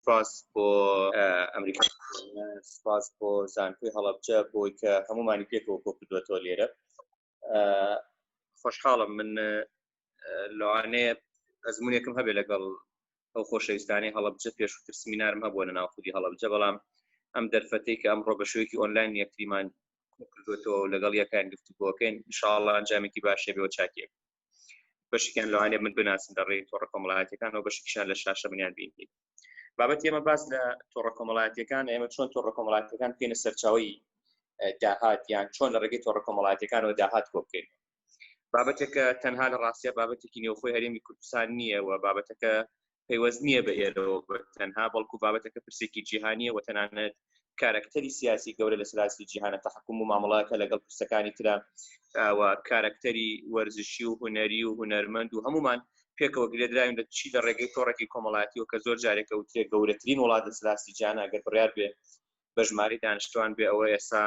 سپاس بۆ ئەمریکا سپاس بۆ زانکۆی هەڵبجە بۆی کە هەمومانی پێکەوە کۆ کردوەتەوە لێرە خۆشحاڵم من لەوانەیە ئەزمونێکم هەبێ لەگەڵ ئەو خۆشەویستانی هەڵبجە پێشتر سمینارم هەبووە لە ناوخودی هەڵبجە بەڵام ئەم دەرفەتی کە ئەم ڕۆبەشوێکی ئۆنلاین یەکتریمان کردوەوە لەگەڵ یەکان گفتوگۆکەین شاڵە ئەنجامێکی باشێبەوە چاکێک بەشێکیان لەوانێ من بناسن لە ڕێی تۆڕە کۆمەڵایەتەکان و بەشێکیان لە شاشە منیان بینی بابەت ئێمە باس لە تۆڕە کۆمەڵایەتەکان ئێمە چۆن تۆڕە کۆمەڵاتەکان پێێنە سەرچاوی داهات یان چۆن لە ڕێگەی تۆڕە کۆمەڵاتەکانەوە داهات کۆ بکەین بابەتێکە تەنها لە ڕاستە بابەتێکی نێوخۆی هەرێمی کوردستان نییە و بابەتەکە پەیوەست نییە بە ئێرەوە تەنها بەڵکو بابەتەکە پرسێکی جیهانیە و تەنانەت کارکتەری سیاسی گەورە لە سلاسی جیهانە تحکم و مامەڵەکە لەگەڵ پرسەکانی ترا و کارکتەری وەرزشی و هوەری و هوەرمەند و هەمومان پێکەوە گرێدراوین لە چی لە ڕێگەی تۆڕێکی کۆمەڵاتی و کە زۆر جارێکە وترێ گەورەترین وڵات لە سلاسی جیانە گەر بڕیار بێ بە ژماری دانیشتوان بێ ئەوە ئێستا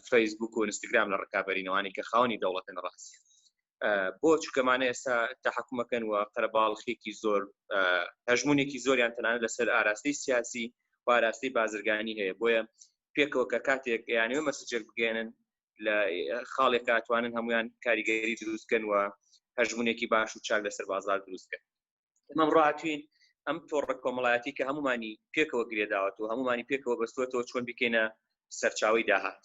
فەیسبوک و ئینستاگرام لە ڕکابەرینەوانی کە خاونی دەوڵەتن ڕاستی بۆ چکەمانە ئێستا تحکومەکەن و قەرەباڵخێکی زۆر هەژمونێکی زۆریان تەنان لەسەر ئاراستەی سیاسی پاراستەی بازرگانی هەیە بۆیە پێکەوە کە کاتێک یانەوە مەسجێک بگەێنن لە خاڵێک کاتوانن هەمویان کاریگەری دروستکەن و هەژمونێکی باش و چاک لەسەر بازار دروستکەن ئەمە ڕاتوین ئەم تۆڕە کۆمەڵایەتی کە هەمومانی پێکەوە گرێداوەت و هەمومانی پێکەوە بەستوەتەوە چۆن بکەینە سەرچاوی داهات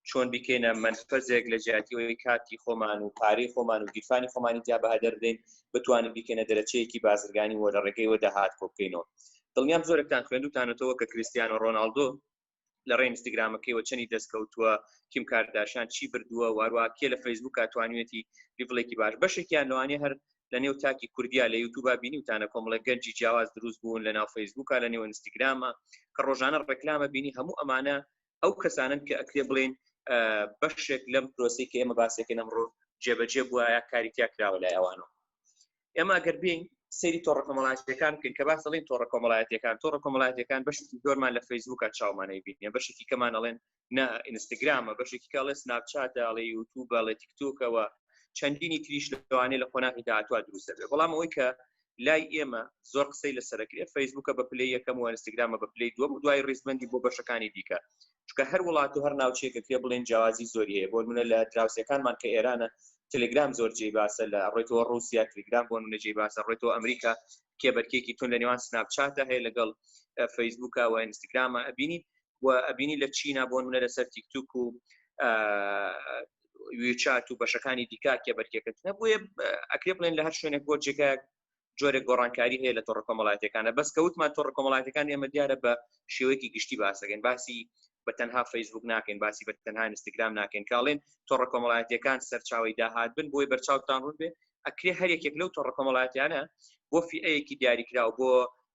چۆن بکەینە منفەزێک لە جیاتیەوەی کاتی خۆمان و پارەی خۆمان و گیرفانی خۆمانی جیا بە هەدەردەین بتوانین بکەینە دەرەچەیەکی بازرگانی وە لە ڕێگەی وە داهات کۆ بکەینەوە دڵنیام زۆرتان خوێندوتانەتەوە کە کریسیان و ڕۆناالدۆ لە ڕێ ئینستاگرامەکەی وە چەنی دەست کەوتووە کیم کارداشان چی بردووە وارووا کێ لە فەیسبوک توانوێتی لیڤڵێکی باش بەشێکیان لەوانەیە هەر لە نێو تاکی کوردیا لە یوتوبا بینیوتانە کۆمەڵە گەنجی جیاواز دروست بوون لە ناو فەیسبوکە لە نێو ئینستاگرامە کە ڕۆژانە ڕێکلامە بینی هەموو ئەمانە ئەو کەسانن کە ئەکرێ بڵێن بەشێک لەم پرۆسی کە ئێمە باسێکە نەمڕۆ جێبەجێ بووە کاری تیا کراوە لای ئەوانەوە ئێمە گەر بین سری تۆڕە کۆمەڵاتەکان بکەین کە باس دەڵین تۆڕە کۆمەڵایەتەکان تۆڕە کۆمەڵاتەکان بەشی زۆرمان لە فەیسبووکە چاومانەی بینە بەشێکی کەمان ئەڵێن نە ئینستاگرامە بەشێکی کاڵێ سناپچاتە ئەڵێ یوتوب بەڵێ تیکتۆکەوە چەندینی تریش لەوانێ لە قۆناغی داهاتوە دروست دەبێت بەڵام ئەوەی کە لای ئێمە زۆر قسەی لەسەرکرێ فەیسبووکە بە پلی یەکەم و ئەنستگرامە بە پلی دووە و دوای ریزبندی بۆ بەشەکانی دیکە چکە هەر وڵات و هەر ناوچەیەکە پێ بڵێن جیاوازی زۆری هەیە بۆ منە لە دراوسەکانمان کە ئێرانە تەلگرام زۆر جێی باسە لە ڕێتەوە ڕوسیا تلگرام بۆ منە جێی باسە ڕێتەوە ئەمریکا کێبەرکێکی تون لە نێوان سناپچاتە هەیە لەگەڵ فەیسبووکە و ئینستاگرامە ئەبینی و ئەبینی لە چینا بۆ منە لەسەر تیکتوک و ویچات و بەشەکانی دیکا کێبەرکێکە نەبووە ئەکرێ بڵێن لە هەر شوێنێک بۆ جێگایەک جۆرێک گۆڕانکاری هەیە لە تۆڕە کۆمەڵاتەکانە بەس کەوتمان تۆڕە کۆمەڵاتەکان ئێمە دیارە بە شێوەیەکی گشتی باسەکەین باسی بە تەنها فەیسبوک ناکەین باسی بە تەنها ئینستاگرام ناکەین کاڵێن تۆڕە کۆمەڵاتەکان سەرچاوی داهات بن بۆی بەرچاوتان ڕوون بێ ئەکرێ هەر یەکێک لەو تۆڕە کۆمەڵاتیانە بۆ فیەیەکی دیاریکراو بۆ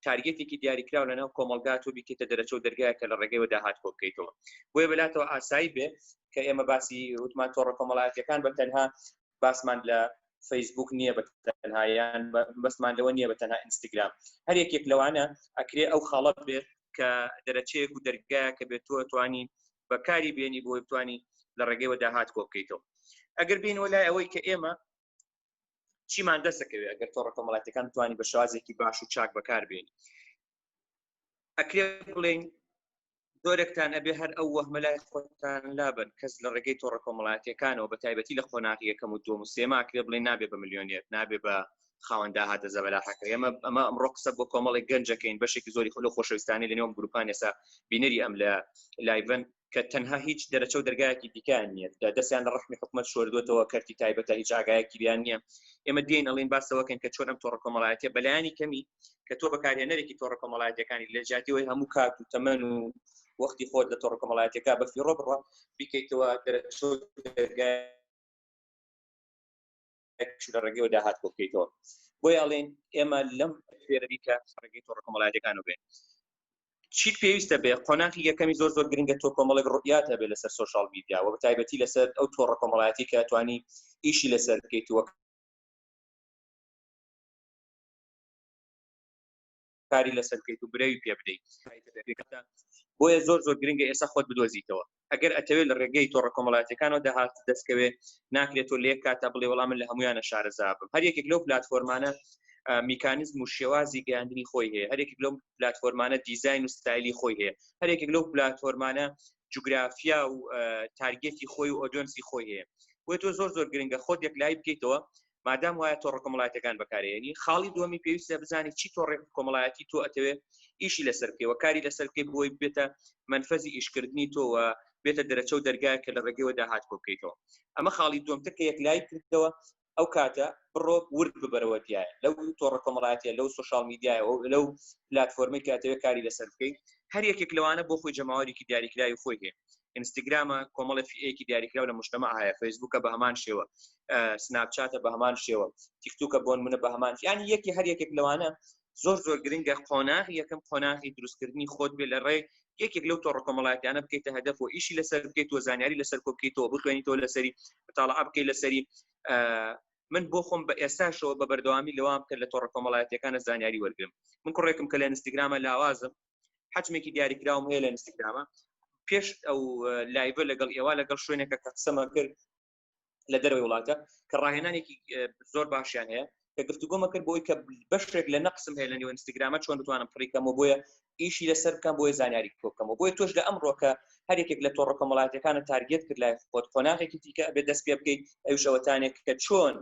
تارگەتێکی دیاریکراو لە ناو کۆمەلگا تۆ بیکەیتە دەرەچە و دەرگایە کە لە ڕێگەی وەداهات کۆ بکەیتەوە بۆیە بەلاتەوە ئاسایی بێ کە ئێمە باسی وتمان تۆڕە کۆمەڵایەتەکان بە تەنها باسمان لە فەیسبووک نییە بە تەنها یان بەسمان لەوە نییە بە تەنها ئینستاگرام هەر یەکێک لەوانە ئەکرێ ئەو خاڵەت بێت کە دەرەچەیەک و دەرگا کە بێت تۆ توانی بەکاری بێنی بۆی بتانی لە ڕێگەیەوە داهات کۆ بکەیتەوە ئەگەر بینەوە لای ئەوەی کە ئێمە چیمان دەسەکەوێت ئەگەر تۆ ڕقۆمەڵاتەکان توانی بە شازێکی باش و چاک بەکار بێنی ئەکرێ بڵێن زۆرێکتان ئەبێ هەر ئەو وەهمە لای خۆتان لابن کەس لە ڕێگەی تۆڕە کۆمەڵاتیەکانەوە بە تایبەتی لە قۆناغی یەکەم و دوم و سێماکرێ بڵێ نابێ بە ملیۆنێت نابێ بە خاوەندا هاتە زەبەلاحەکە ئێمە ئەمە ئەمڕۆ قسە بۆ کۆمەڵی گەنجەکەین بەشێکی زۆری خۆلو خۆشەویستانی لە نێوم گروپان ێسا بینەری ئەم لە لایڤن کە تەنها هیچ دەرەچە و دەرگایەکی دیکان نییە دەستیان لە ڕحمی حکومت شۆردوێتەوە کەرتی تایبەتە هیچ ئاگایەکی بیان نییە ئێمە دێن ئەڵین باسەوەکەن کە چۆن ئەم تۆڕ کۆمەڵایەتە بەلایانی کەمی کە تۆ بەکارهێنەرێکی تۆڕە کۆمەڵایەتەکانی لە جاتیەوەی هەموو کات و تەمەن و وەختی خۆت لە تۆڕە کۆمەڵایەتەکە بە فیڕۆ بڕە بیکەیتەوە دەرەچۆ لە ڕێگەوە داهات بۆ بکەیتەوە بۆی ئەڵێن ئێمە لەم فێرەری کە ڕێگەی تۆڕە کۆمەڵایەتەکان و بێن چیت پێویستە بێ قۆناخی یەکەمی زۆر زۆر گرنگە تۆ کۆمەڵێک ڕوئات هەبێت لەسەر سوۆشال میدیا و تایبەتی لەسەر ئەو تۆڕە کۆمەڵایەتی کە توانی ئیشی لەسەر بکەیتوە کاری لەسەر بکەیت و برەوی پێ بدەیت بۆیە زۆر زۆر گرنگە ئێستا خۆت بدۆزیتەوە ئەگەر ئەتەوێت لە ڕێگەی تۆڕە کۆمەڵاتەکانەوە داهات دەستکەوێ ناکرێت تۆ لێک کاتە بڵێ وەڵام من لە هەمویانە شارەزا بم هەر یەکێک لەو پلتفۆرمانە میکانزم و شێوازی گەیاندنی خۆی هەیە هەرێک لەو پلتفۆرمانە دیزین و ستایلی خۆی هەیە هەرێک لەو پلتفۆرمانە جوگرافیا و تارگێتی خۆی و ئۆدۆنسی خۆی هەیە بۆی تۆ زۆر زۆر گرنگە خۆت یەک لای بکەیتەوە مادام وایە تۆڕە کۆمەڵایەتەکان بەکارێنی خاڵی دومی پێویستە بزانانی چی تۆڕێک کۆمەڵایەتی تۆ ئەتەوێت ئیشی لەسەر بکەوە کاری لەسەر بکەی بۆی بێتە منفەزی ئیشکردنی تۆوە بێتە دەرەچە و دەرگای کە لە ڕێگەوە داهات کۆ بکەیتەوە ئەمە خاڵی دومتە کە یەک لای کردەوە ئەو کاتە بڕۆ ورد ببەرەوە دیایە لەو تۆڕە کۆمەڵاتە لەو سوشال میدیایە لەو پلتفۆرمێک کاتەوە کاری لەسەر بکەیت هەر یەکێک لەوانە بۆ خۆی جەماوەێکی دیاریکراوی خۆی هەیە ئینستاگرامە کۆمەڵە فیەکی دیاریکراو لە مشتمە هەیە فەیسبووکە بە هەمان شێوە سناپچاتە بە هەمان شێوە تیکتوکە بۆن منە بە هەمان یان یەکی هەر یەکێک لەوانە زۆر زۆر گرنگە قۆناغ یەکەم قۆناغی دروستکردنی خۆت بێ لە ڕێ یەکێک لەو تۆڕ کۆمەڵاتیانە بکەیتە هەدەف و ئیشی لەسەر بکەیت و زانیاری لەسەر کۆبکەیتەوە بخوێنیتەوە لەسەری تاڵە ئەبکەی لەسەری من بۆ خۆم بە ئێستاشەوە بە بەردەوامی لەوام کرد لە تۆڕ کۆمەڵایەتەکانە زانیاری وەرگم من کوڕێکم کە لە ئینستاگرامە لاوازم حجمێکی دیاریکراوم هەیە لە ئینستاگرامە پێش ئەو لایڤە لەگەڵ ئێوە لەگەڵ شوێنێکە کە قسەمە کرد لە دەروی وڵاتە کە ڕاهێنانێکی زۆر باشیان هەیە کە گفتوگۆمە کرد بۆی کە بەشێک لە نەقسم هەیە لە نێو ئینستاگرامە چۆن بتوانم پڕیکەمەوە بۆیە ئیشی لەسەر بکەم بۆی زانیاری کۆکەمەوە بۆی تۆش لە ئەمڕۆکە هەر یەکێک لە تۆڕە کۆمەڵاتەکانە تارگێت کرد لای خۆت قۆناغێکی دیکە بێ دەست پێ بکەیت ئەوشەوەتانێک کە چۆن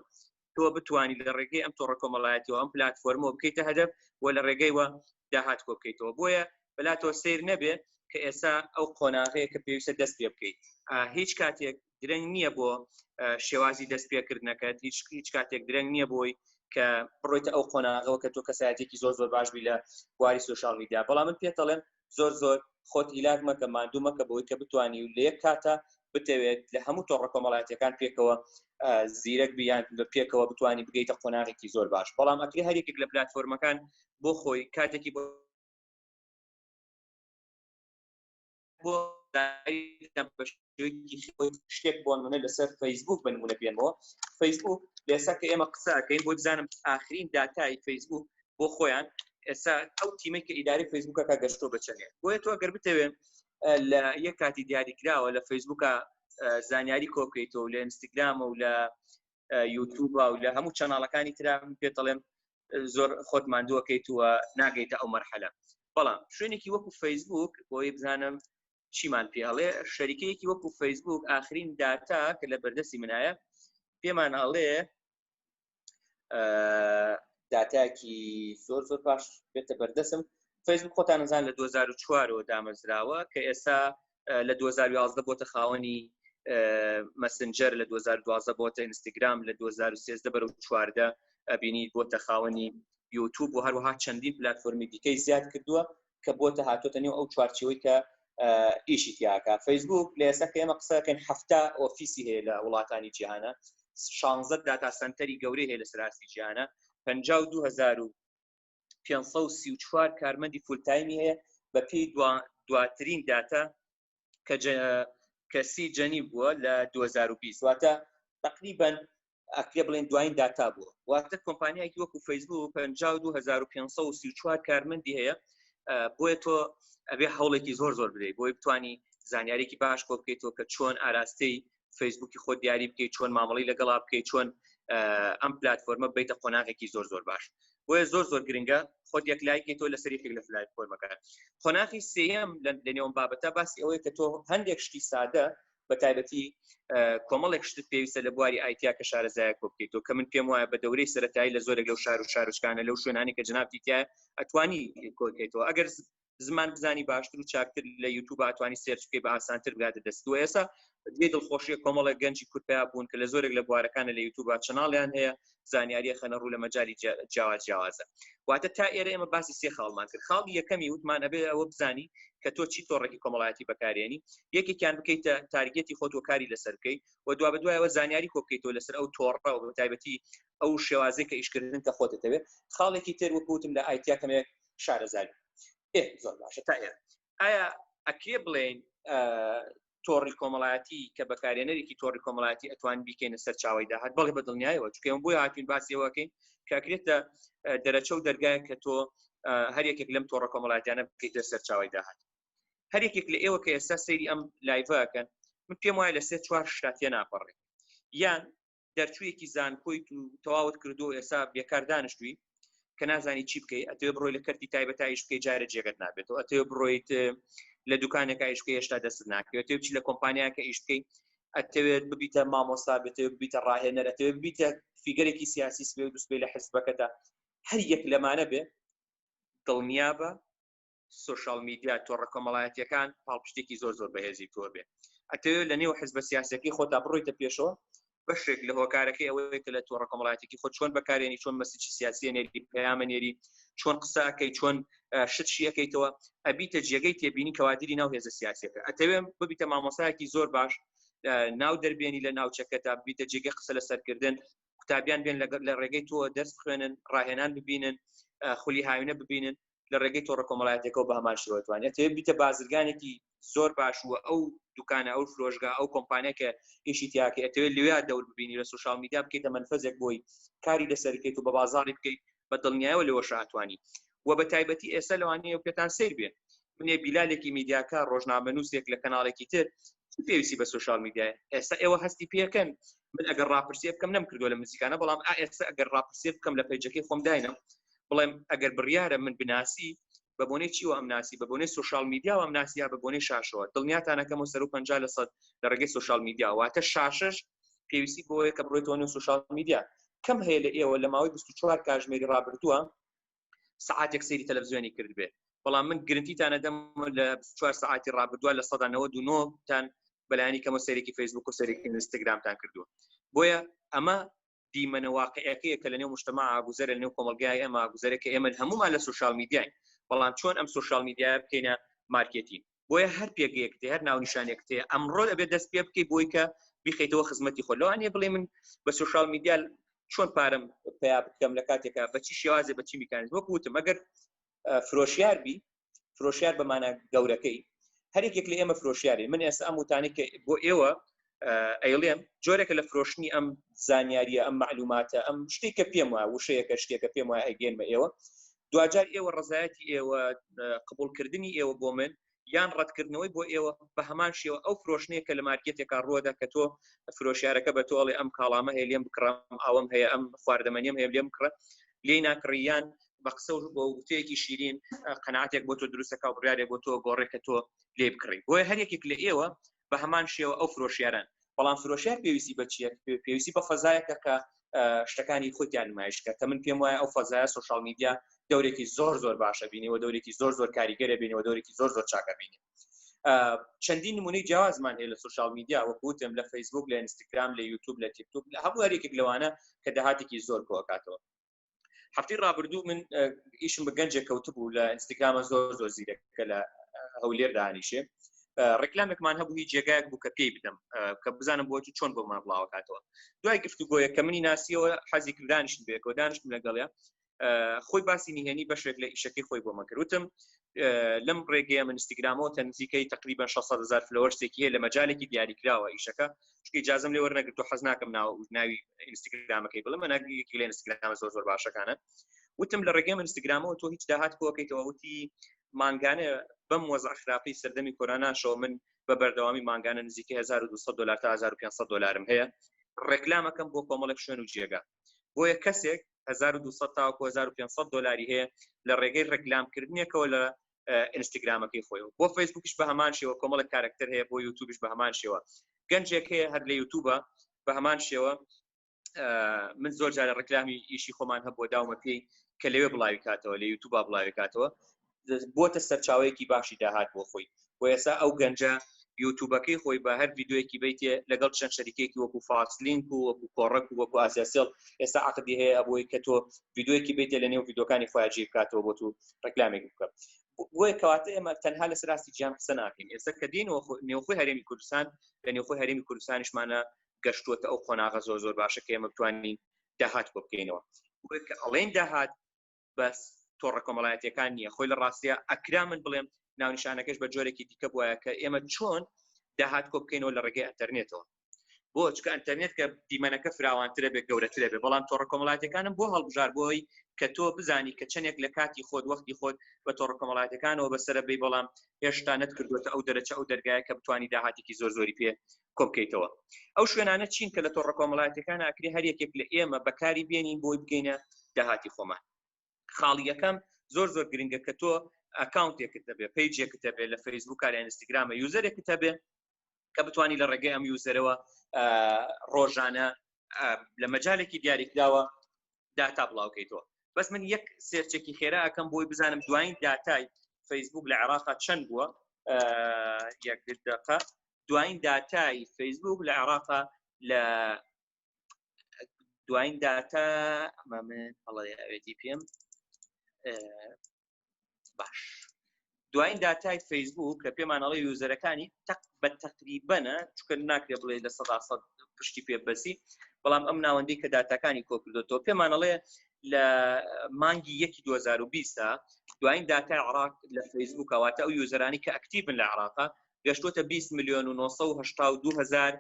تۆ بتوانیت لە ڕێگەی ئەم تۆڕە کۆمەڵایەتیەوە ئەم پلتفۆرمەوە بکەیتە هەدەف و لە ڕێگەیوە داهات کۆ بکەیتەوە بۆیە بەلاتەوە سیر نەبێ کە ئێستا ئەو قۆناغەیە کە پێویستە دەست پێ بکەیت هیچ کاتێک درەنگ نییە بۆ شێوازی دەست پێکردنەکەت هیچ هیچ کاتێک درەنگ نییە بۆی کە بڕۆیتە ئەو قۆناغەوە کە تۆ کەسایەتێکی زۆر زۆر باش بی لە بواری سوۆشال میدیا بەڵام من پێتەڵێن زۆر زۆر خۆت هیلاک مەکە ماندوو مەکە بەوەی کە بتانی و لە یەک کاتە بتەوێت لە هەموو تۆڕە کۆمەڵاتیەکان پێکەوە زیرەک بیان بە پێکەوە بتانی بگەیتە قۆناغێکی زۆر باش بەڵام ئەکری هەرێک لە پلتفۆرمەکان بۆ خۆی کاتێکی بۆ بۆ شتێک بۆ نمونە لەسەر فەیسبوک بە نمونە بێنەوە فەیسبوک لێسا کە ئێمە قسەکەین بۆ بزانم ئاخرین داتای فەیسبوک بۆ خۆیان ئێستا ئەو تیمەی کە ئیداری فەیسبوکە کا گەشتۆ بچێت بۆیە تۆ گەر بتەوێن لە یەک کاتی دیاریکراوە لە فەیسبوکە زانیاری کۆکەیتەوە لە ئینستاگرامە و لە یوتوب و لە هەموو چەناڵەکانی تررا پێ دەڵێم زۆر خۆت مادووەکەیت وە ناگەیتە ئەو مەرحەلە بەڵام شوێنێکی وەکو فەیسبوک بۆی بزانم چیمان پێ ئەڵێ شەریکەیەکی وەکو فەیسبوک ئاخرین داتا کە لە بەردەستی منایە پێمان ئەڵێ داتاکی زۆر زۆر باش بێتە بەردەسم فەیسبوک خۆتان نزان لە 2004ەوە دامەزراوە کە ئێستا لە 2011 بۆتە خاوەنی مەسنجەر لە 2012 بۆتە ئینستاگرام لە 2013 بەرە چواردە ئەبینی بۆتە خاوەنی یوتوب و هەروەها چەندین پلتفۆرمی دیکەی زیاد کردووە کە بۆتە هاتۆتە نێو ئەو چوارچەوەی کە ئیشی تیاکە فەیسبوک لە ئێستا کەێمە قسەکەن هەفتا ئۆفیسی هەیە لە وڵاتانی جیهانە شانزە داتا سنتەری گەورەی هەیە لە سراسی جیانە پ دوهزار و 534 کارمەندی فولتایمی هەیە بە پێی دواترین داتا کە کەسی جەنی بووە لە 2020 واتە تقریبا ئەکرێ بڵێن دوایین داتا بووە واتە کۆمپانیایکی وەکو فەیسبوو 52534 کارمەندی هەیە بۆیە تۆ ئەبێ هەوڵێکی زۆر زۆر بدەیت بۆی بتانی زانیارێکی باش کۆ بکەیتەوە کە چۆن ئاراستەی فەیسبوکی خۆ دیاری بکەیت چۆن مامەڵی لەگەڵا بکەیت چۆن ئەم پلتفۆرمە بیتە قۆناغێکی زۆر زۆر باش بۆیە زۆر زۆر گرنگە خۆت یەک لایکی تۆ لە سەریێک لە فلای فۆرمەکە قۆناغی سم لە نێوم بابەتە باسی ئەوەیە کە تۆ هەندێک شتی سادە بە تایبەتی کۆمەڵێک شتت پێویستە لە بواری ئایتیا کە شارەزایە کۆ بکەیت و کە من پێم وایە بە دەورەی سەتایی لە زۆرێک لەو شار و شارشکانە لەو شوێنانی کە جنابتیتە ئەتوانی کۆکەیتەوە ئەگەر زمان بزانی باشتر و چاکتر لە یوتوب ئەتوانی سێرچ بکەی بە ئاسانتر بگاتە دەست و ئێستا جێ دڵخۆشیە کۆمەڵێک گەنجی کورد پیا بوون کە لە زۆرێک لە بوارەکانە لە یوتوب چناڵیان هەیە زانیاریە خەنە ڕوو لە مەجای جیاواز جیاوازە واتە تا ئێرە ئێمە باسی سێ خاڵمان کرد خاڵی یەکەمی وتمان ئەبێ ئەوە بزانی کە تۆ چی تۆڕێکی کۆمەڵایەتی بەکارێنی یەکێکیان بکەیتە تارگەتی خۆت و کاری لەسەر بکەی و دوا بە دوایەوە زانیاری کۆبکەیتەوە لەسەر ئەو تۆڕە و تایبەتی ئەو شێوازێک کە ئیشکردن کە خۆت دەتەوێت خاڵێکی تر وەکوتم لە ئایتیا کەمێک شارەزای ئێ زۆر باشە تا ئێ ئایا ئەکرێ بڵێن تۆڕی کۆمەڵایەتی کە بەکارێنەرێکی تۆڕی کۆمەڵایەتی ئەتوان بیکەینە سەرچاوی داهات بەڵێ بە دڵنیایەوە چکەم بۆی هاتوین باسیەوەکەین کاکرێتە دەرەچە و دەرگایە کە تۆ هەر یەکێک لەم تۆڕە کۆمەڵاتیانە بکەیتە سەرچاوی داهات هەر یەکێک لە ئێوە کە ئێستا سەیری ئەم لایڤەکەن من پێم وایە لە سێ چوار شتاتە ناپەڕێ یان دەرچوویەکی زانکۆیت و تەواوت کردو ئێستا بێکار دانیشتوی کە نازانی چی بکەیت ئەتێ بڕۆی لە کەرتی تایبەتایش بکەی جارە جێگەت نابێتەوە ئەتێ بڕۆیت لە دوکانێکە ئیشکە هێشتا دەست ناکەوێت تێبچ لە کۆمپانیاکە ئیش بکەیت ئەتەوێت ببیتە مامۆستا بێتێ ببیتە ڕاهێنەرەتێ ببیتە فیگەرێکی سیاسی سبێ دوستبێ لە حزبەکەدا هەر یەک لەمانە بێ دڵنیابە سوشال میدیا تۆڕە کۆمەڵایەتیەکان پاڵپشتێکی زۆر زۆر بەهێزی تۆ بێ ئەتەوێت لە نێو حزبە سیاسەکەی خۆتا بڕۆیتە پێشەوە بەشێک لە هۆکارەکەی ئەوەیە کە لە تۆڕە کۆمەڵایەتێکی خۆ چۆن بەکارێنی چۆن مەسیی سیاسی نێری پەیامە نێری چۆن قسەکەی چۆن شت شیەکەیتەوە ئەبیتە جێگەی تێبینی کەوادری ناو هێزە سیاسەکە ئەتەوێم ببیتە مامۆسایەکی زۆر باش ناو دەربێنی لە ناوچەکە تا بیتە جێگە قسە لە سەرکردن قوتابیان بێن لەگەر لە ڕێگەی تۆ دەست خوێنن ڕاهێنان ببینن خولی هاوینە ببینن لە ڕێگەی تۆڕە کۆمەڵایەتەکەەوە بە هەمان شێوە توانێت تێ بیتە بازرگانێکی زۆر باشوە ئەو دوکانە ئەو فرۆشگا ئەو کۆمپانیەکە ئیشی تیاکە ئەتەوێت لێ دەور ببینی لە سوشال میدیا بکەیتە منفەزێک بۆی کاری لەسەر بکەیت و بە بازاری بکەیت بە دڵنیایەوە لەوە شاتوانی و بە تایبەتی ئێستا لەوانەیە و پێتان سیر بێت منێ بیلالێکی میدیاکە ڕۆژنامەنووسێک لە کەناڵێکی تر پێویستی بە سوشال میدیای ئێستا ئێوە هەستی پێکەن من ئەگەر ڕاپرسیە بکەم نەم کردو لە مزیکانە بەڵام ئێستا ئەگەر ڕاپرسیە بکەم لە پەیجەکەی خۆم داینم بڵێم ئەگەر بڕیارە من بناسی بە بۆنەی چیوە ئەم ناسی بە بۆنەی سوشال میدیا ئەم ناسییا بە بۆنەی شاشەوە دڵنیاتانەکەم و سەر و پ لە سەد لە ڕێگەی سوشال میدیا واتە شاشش پێویستی بۆیە کە بڕێتۆنی و سوشال میدیا کەم هەیە لە ئێوە لە ماوەی 24 کاژمێری ڕابردووە سعاتێک سری تەلەڤزیۆنی کرد بێ بەڵام من گرنتیتانە دەم لە 24 سعاتی ڕابردووە لە 1999 تان بەلایانی کەمە سەرێکی فەیسبوک و سەرێکی ئینستاگرامتان کردووە بۆیە ئەمە دیمەنە واقعەکەیە کە لەنێو مشتمە ئاگوزەرە لەنێو کۆمەلگای ئەمە گوزەرە کە ئێمە هەمومان لە سوشال میدیاین بەڵام چۆن ئەم سوشال میدیا بکەینە مارکێتین بۆیە هەر پێگەیەک تێ هەر ناونیشانێک تێ ئەمڕۆ ئەبێ دەست پێ بکەی بۆی کە بیخیتەوە خزمەتی خۆ لەوانێ بڵێ من بە سوشال میدیا چۆن پارم پیا بکەم لە کاتێکا بەچی شێوازێ بەچی میکانیزم وەکوتم ئەگەر فرۆشیار بی فرۆشیار بەمانە گەورەکەی هەرێکێک لە ئێمە فرۆشیاری من ئێستا ئەم وتانی کە بۆ ئێوە ئەیڵێم جۆرێکە لە فرۆشتنی ئەم زانیاریە ئەم معلوماتە ئەم شتێک کە پێم وایە وشەیەکە شتێکە پێم وایە ئەگەێنمە ئێوە دوجار ئێوە ڕزایەتی ئێوە قبولکردنی ئێوە بۆ من یان ڕەتکردنەوەی بۆ ئێوە بە هەمان شێوە ئەو فرۆشنەیە کە لە مارکێتێکا ڕوەدا کە تۆ فرۆشارەکە بە تۆڵێ ئەم کاڵامە هەیە لێم بکڕم ئەوم هەیە ئەم خواردەمەنیم هەیە لێم کڕە لێ ناکڕیان بە قسە و بۆ وتەیەکی شیرین قەناتێک بۆ تۆ دروستەکە و بڕارێک بۆ تۆ گۆڕێکە تۆ لێ بکڕی بۆیە هەر یەکێک لە ئێوە بە هەمان شێوە ئەو فرۆشیاران بەڵام فرۆشیار پێویستی بە چیە پێویستی بە فەزایەکە کە شتەکانی خۆتیان نمایشکە کە من پێم وایە ئەو فەزایە سوشال میدیا دەورێکی زۆر زۆر باشە بینیەوە دەورێکی زۆر زۆر کاریگەرە بینەوە دەورێکی زۆر زۆر چاکە بینی چەندین نمونەی جیازمان هەیە لە سوشال میدیا وەکوتم لە فەیسبوک لە ئینستاگرام لە یوتوب لە تیکتوب لە هەموو هەرێکێک لەوانە کە داهاتێکی زۆر کۆکاتەوە هەفتی ڕابردوو من ئیشم بە گەنجێک کەوتبوو لە ئینستاگرامە زۆر زۆر زیرەکە لە هەولێر دانیشێ ڕێکلامێکمان هەبوو هی جێگایك بوو کە پێی بدەم کە بزانم بۆچی چۆن بۆمان بڵاوکاتەوە دوای گفتوگۆیە کە منی ناسیەوە حەزی کردانیشت بێکەوە دانیشتم لەگەڵە خۆی باسی نهێنی بەشێک لە ئیشەکەی خۆی بۆ مەکردوتم لەم ڕێگەیە من ئینستاگرامەوە تە نزیکەی تقریبا 600 هزار فلۆرسێکی هەیە لە مەجالێکی دیاریکراوە ئیشەکە شکی جازم لێ وەرنەگرتو حەز ناکەم ناو ناوی ئینستاگرامەکەی بڵم ناگیکی لە ئینستاگرام زۆر زۆر باشەکانە وتم لە ڕێگەی من ئینستاگرامەوە تۆ هیچ داهات کۆکەیتەوە وتی مانگانە بەم وەزع خراپی سەردەمی کۆراناشەوە من بە بەردەوامی مانگانە نزیکە 1200 دلار تا 1500 دلارم هەیە ڕێکلامەکەم بۆ کۆمەڵێک شوێن و جێگە بۆیە کەسێک 1200 تاوەکو 1500 دلاری هەیە لە ڕێگەی ڕێکلامکردنیەکەوە لە ئینستاگرامەکەی خۆی بۆ فەیسبوکش بە هەمان شێوە کۆمەڵە کارکتەر هەیە بۆ یوتوبش بە هەمان شێوە گەنجێک هەیە هەر لە یوتوبە بە هەمان شێوە من زۆر جارە ڕکلامی ئیشی خۆمان هەبووە داومە پێی کە لەوێ بڵاوی کاتەوە لە یوتوبا بڵاوی کاتەوە بۆتە سەرچاوەیەکی باشی داهات بۆ خۆی و ئێسا ئەو گەنجە یوتوبەکەی خۆی بە هەر یددیوەکی بیتێ لەگەڵ چەند شەریکێکی وەکو فاکسلینک و وەکو کۆڕک و وەکو ئاسیاسیڵ ئێستا عقدی هەیە ئەبووی کە تۆ یددیوەکی بیتێ لە نێو یددیوەکانی خۆیاجی بکاتەوە بۆ تو ڕکلامێک بکە بۆی کەواتە ئێمە تەنها لە سراستی جیان قسە ناکەین ئێستا کە دین و نێوخۆی هەرێمی کوردستان لە نێوخۆی هەرێمی کوردستانیشمانە گەشتووەتە ئەو قۆناغە زۆر زۆر باشە کە ئێمە بتوانین داهات بۆ بکەینەوە ئەڵێن داهات بەس تۆڕە کۆمەڵایەتیەکان نییە خۆی لە ڕاستە ئەکرا من بڵێم ناونشانەکەش بە جۆرێکی دیکە بواە کە ئێمە چۆن داهات کۆ بکەینەوە لە ڕێگەی ئەتەرنێتەوە بۆ چکە ئەتەرنێت کە دیمەنەکە فراوانترە بێت گەورەترە بێ بەڵام تۆڕە کۆمەڵاتەکانم بۆ هەڵبژار بۆی کە تۆ بزانی کە چەندێک لە کاتی خۆت وەختی خۆت بە تۆڕە کۆمەڵاتەکانەوە بەسرە بی بەڵام هێشتا نەتکردوێتە ئەو دەرەچە ئەو دەرگایە کە بتانی داهاتێکی زۆر زۆری پێ کۆبکەیتەوە ئەو شوێنانە چین کە لە تۆڕە کۆمەڵاتەکان ئاکری هەر یەکێک لە ئێمە بەکاری بێنین بۆی بگەینە داهاتی خۆمان خاڵی یەکەم زۆر زۆر گرنگە کە تۆ ئەکاونتێکت دەبێت پیجێکت دەبێت لە فەیسبوک لە ئینستاگرامە یوزەرێکت هەبێت کە بتانی لە ڕێگەی ئەم یوزەرەوە ڕۆژانە لە مەجالێکی دیاریکراوە داتا بڵاوکەیتەوە بەس من یەک سێرچێکی خێرا ئەەکەم بۆی بزانم دوایین داتای فەیسبوک لە عێراقا چەند بووە یەک دقە دوایین داتای فەیسبوک لە عێراقا لە دوایین داتا ئەمامەڵەوێتی پێم باش دوایین داتای فەیسبوک کە پێمانەڵی یوزەرەکانی تەق بە تەقریبەنە چکە ناکرێ بڵێ لە سەدا سەد پشتی پێ بەسی بەڵام ئەم ناوەندی کە داتاکانی کۆکردێتەوە پێمانەڵێ لە مانگی یەکی 2020 دوایین داتای عراق لە فەیسبوکەواتە ئەو یوزەرانی کە ئەکتیبن لە عراقا گەشتوتە بیست ملیۆن و نۆ سەد و هەشتا و دوو هەزار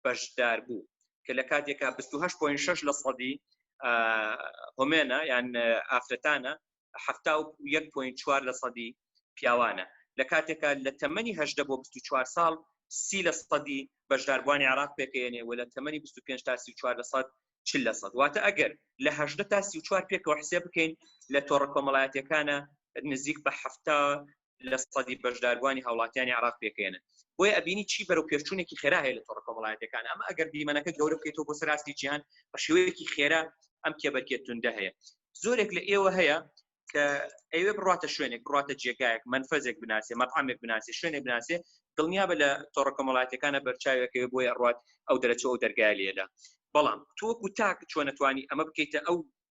بەشدار بوو کە لە کاتێکا بیست و هەشت پۆین شەش لە سەدی هۆمێنە یان ئافرەتانە حەفتا و یەک پۆین چوار لە سەدی پیاوانە لە کاتێکا لە تەمەنی هەشدە بۆ بیست و چوار ساڵ سی لە سەدی بەشداربووانی عراق پێکەێنێ و لە تەمەنی 25 تا 34 لە سەد چ لە سەد واتە ئەگەر لە هەشدە تا 34 پێکەوە حسێ بکەین لە تۆڕە کۆمەڵایەتەکانە نزیک بە هەفتا لە سەدی بەشداربووانی هاوڵاتیانی عێراق پێکەێنن بۆیە ئەبینی چی بەرەو پێشچوونێکی خێرا هەیە لە تۆڕە کۆمەڵایەتەکان ئەمە ئەگەر دیمەنەکە گەورە بکەیتەوە بۆ سەراستی جیهان بە شێوەیەکی خێرا ئەم کێبەرکێت توندە هەیە زۆرێک لە ئێوە هەیە کە ئەوێ بڕاتە شوێنێک بڕاتە جێگایەک منفەزێک بناسێ مەقامێک بناسێ شوێنێک بناسێ دڵنیا بە لە تۆڕە کۆمەڵاتەکانە بەرچاوێکەوە بۆی ئەڕات ئەو دەرەچەوە دەرگای لێدا بەڵام تۆکو تاک چۆنەتوانی ئەمە بکەیتە ئەو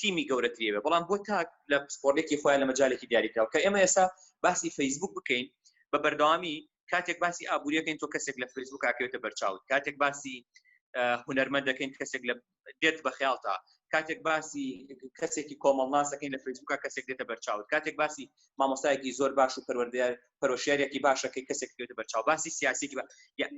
تیمی گەورەتری بێ بەڵام بۆ تاک لە پسپۆرێکی خۆیان لە مەجالێکی دیاریکراوە کە ئێمە ئێستا باسی فەیسبوک بکەین بە بەردەوامی کاتێک باسی ئابوووریەکەین تۆ کەسێک لە فەیسبوک کاکەوێتە بەرچاوت کاتێک باسی هونەرمەند دەکەین کەسێک لە دێت بە خیاڵتا کاتێک باسی کەسێکی کۆمەڵناسەکەین لە فەیسبوکە کەسێک دێتە بەرچاوت کاتێک باسی مامۆستایەکی زۆر باش و پەروەردەیار پەرۆشیارێکی باشە کە کەسێک بێتە بەرچاو باسی سیاسێکی بە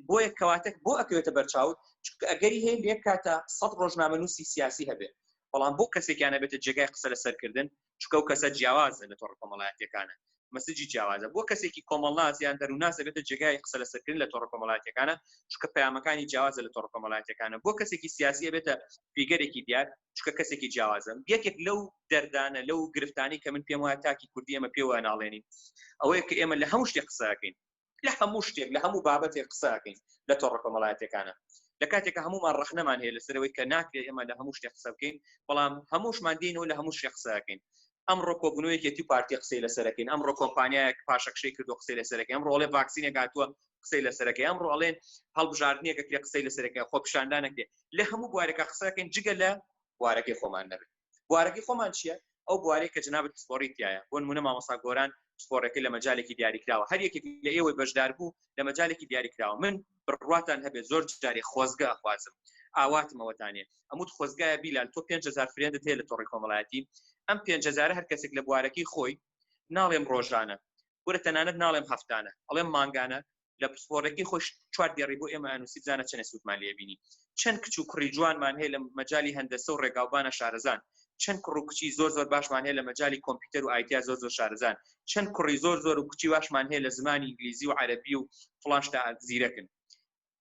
بۆیە کەواتەک بۆ ئەکەوێتە بەرچاو چکە ئەگەری هەیە لێک کاتە سەد ڕۆژنامە نووسی سیاسی هەبێت بەڵام بۆ کەسێکیانە بێتە جێگای قسە لە سەرکردن چکە و کەسە جیاوازە لە تۆڕ کۆمەڵایەتەکانە مەسجی جیاوازە بۆ کەسێکی کۆمەڵناس یان دەرووناس دەبێتە جێگای قسە لە سەرکردن لە تۆڕ کۆمەڵایەتەکانە چکە پەیامەکانی جیاوازە لە تۆڕ کۆمەڵایەتەکانە بۆ کەسێکی سیاسیە بێتە پیگەرێکی دیار چکە کەسێکی جیاوازم یەکێک لەو دەردانە لەو گرفتانی کە من پێم وایە تاکی کوردی ئەمە پێوە ناڵێنین ئەوەیە کە ئێمە لە هەموو شتێک قسەکەین لە هەموو شتێک لە هەموو بابەتێک قسەکەین لە تۆڕە کۆمەڵایەتەکانە لە کاتێکە هەمومان ڕخنەمان هەیە لەسەرەوەی کە ناکرێت ئێمە لە هەموو شتێ قسە بکەین بەڵام هەمووشمان دێنەوە لە هەموو شێ قسەکەین ئەمڕۆ کۆبوونەوە یەکێتی و پارتی قسەی لەسەرەکەین ئەمڕۆ کۆمپانیایەک پاشەکشەی کردو قسەی لەسەرەکەی ئەمڕۆ ئەڵێ ڤاکسینێک هاتووە قسەی لەسەرەکەی ئەمڕۆ ئەڵێن هەڵبژاردنێکە کرێ قسەی لەسەرەکەی خۆپیشاندانەکرێ لە هەموو بوارێکە قسەکەین جگە لە بوارەکەی خۆمان نەبێت بوارەکەی خۆمان چییە ئەو بوارەی کە جنابەت پسپۆڕی تایە بۆ نمونە مامۆسا گۆران پسپۆڕەکەی لە مەجالێکی دیاریکراوە هەر یەکێک لە ئێوەی بەشدار بوو لە مەجالێکی دیاریکراوە من بڕواتان هەبێت زۆر جارێ خۆزگە ئەخوازم ئاواتمەوەتانێ ئەموت خۆزگایە بیلال تۆ 5هزار فرێندت هەیە لە تۆڕی کۆمەڵایەتی ئەم 5هزار هەر کەسێک لە بوارەکەی خۆی ناڵێم ڕۆژانە وەرە تەنانەت ناڵێم هەفتانە ئەڵێم مانگانە لە پسپۆرەکەی خۆش چوار دێڕی بۆ ئێمە ئەنووسی بزانە چەنە سوودمان لێبینی چەند کچ و کوڕی جوانمان هەیە لە مەجای هەندەسە و ڕێگاوبانە شارەزان چەند کوڕ و کچی زۆر زۆر باشمان هەیە لە مەجای کۆمپیوتەر و ئایتیا زۆر زۆر شارزان چەند کوڕی زۆر زۆر و کچی واشمان هەیە لە زمانی ئینگلیزی و عەرەبی و فڵان شتە زیرەکن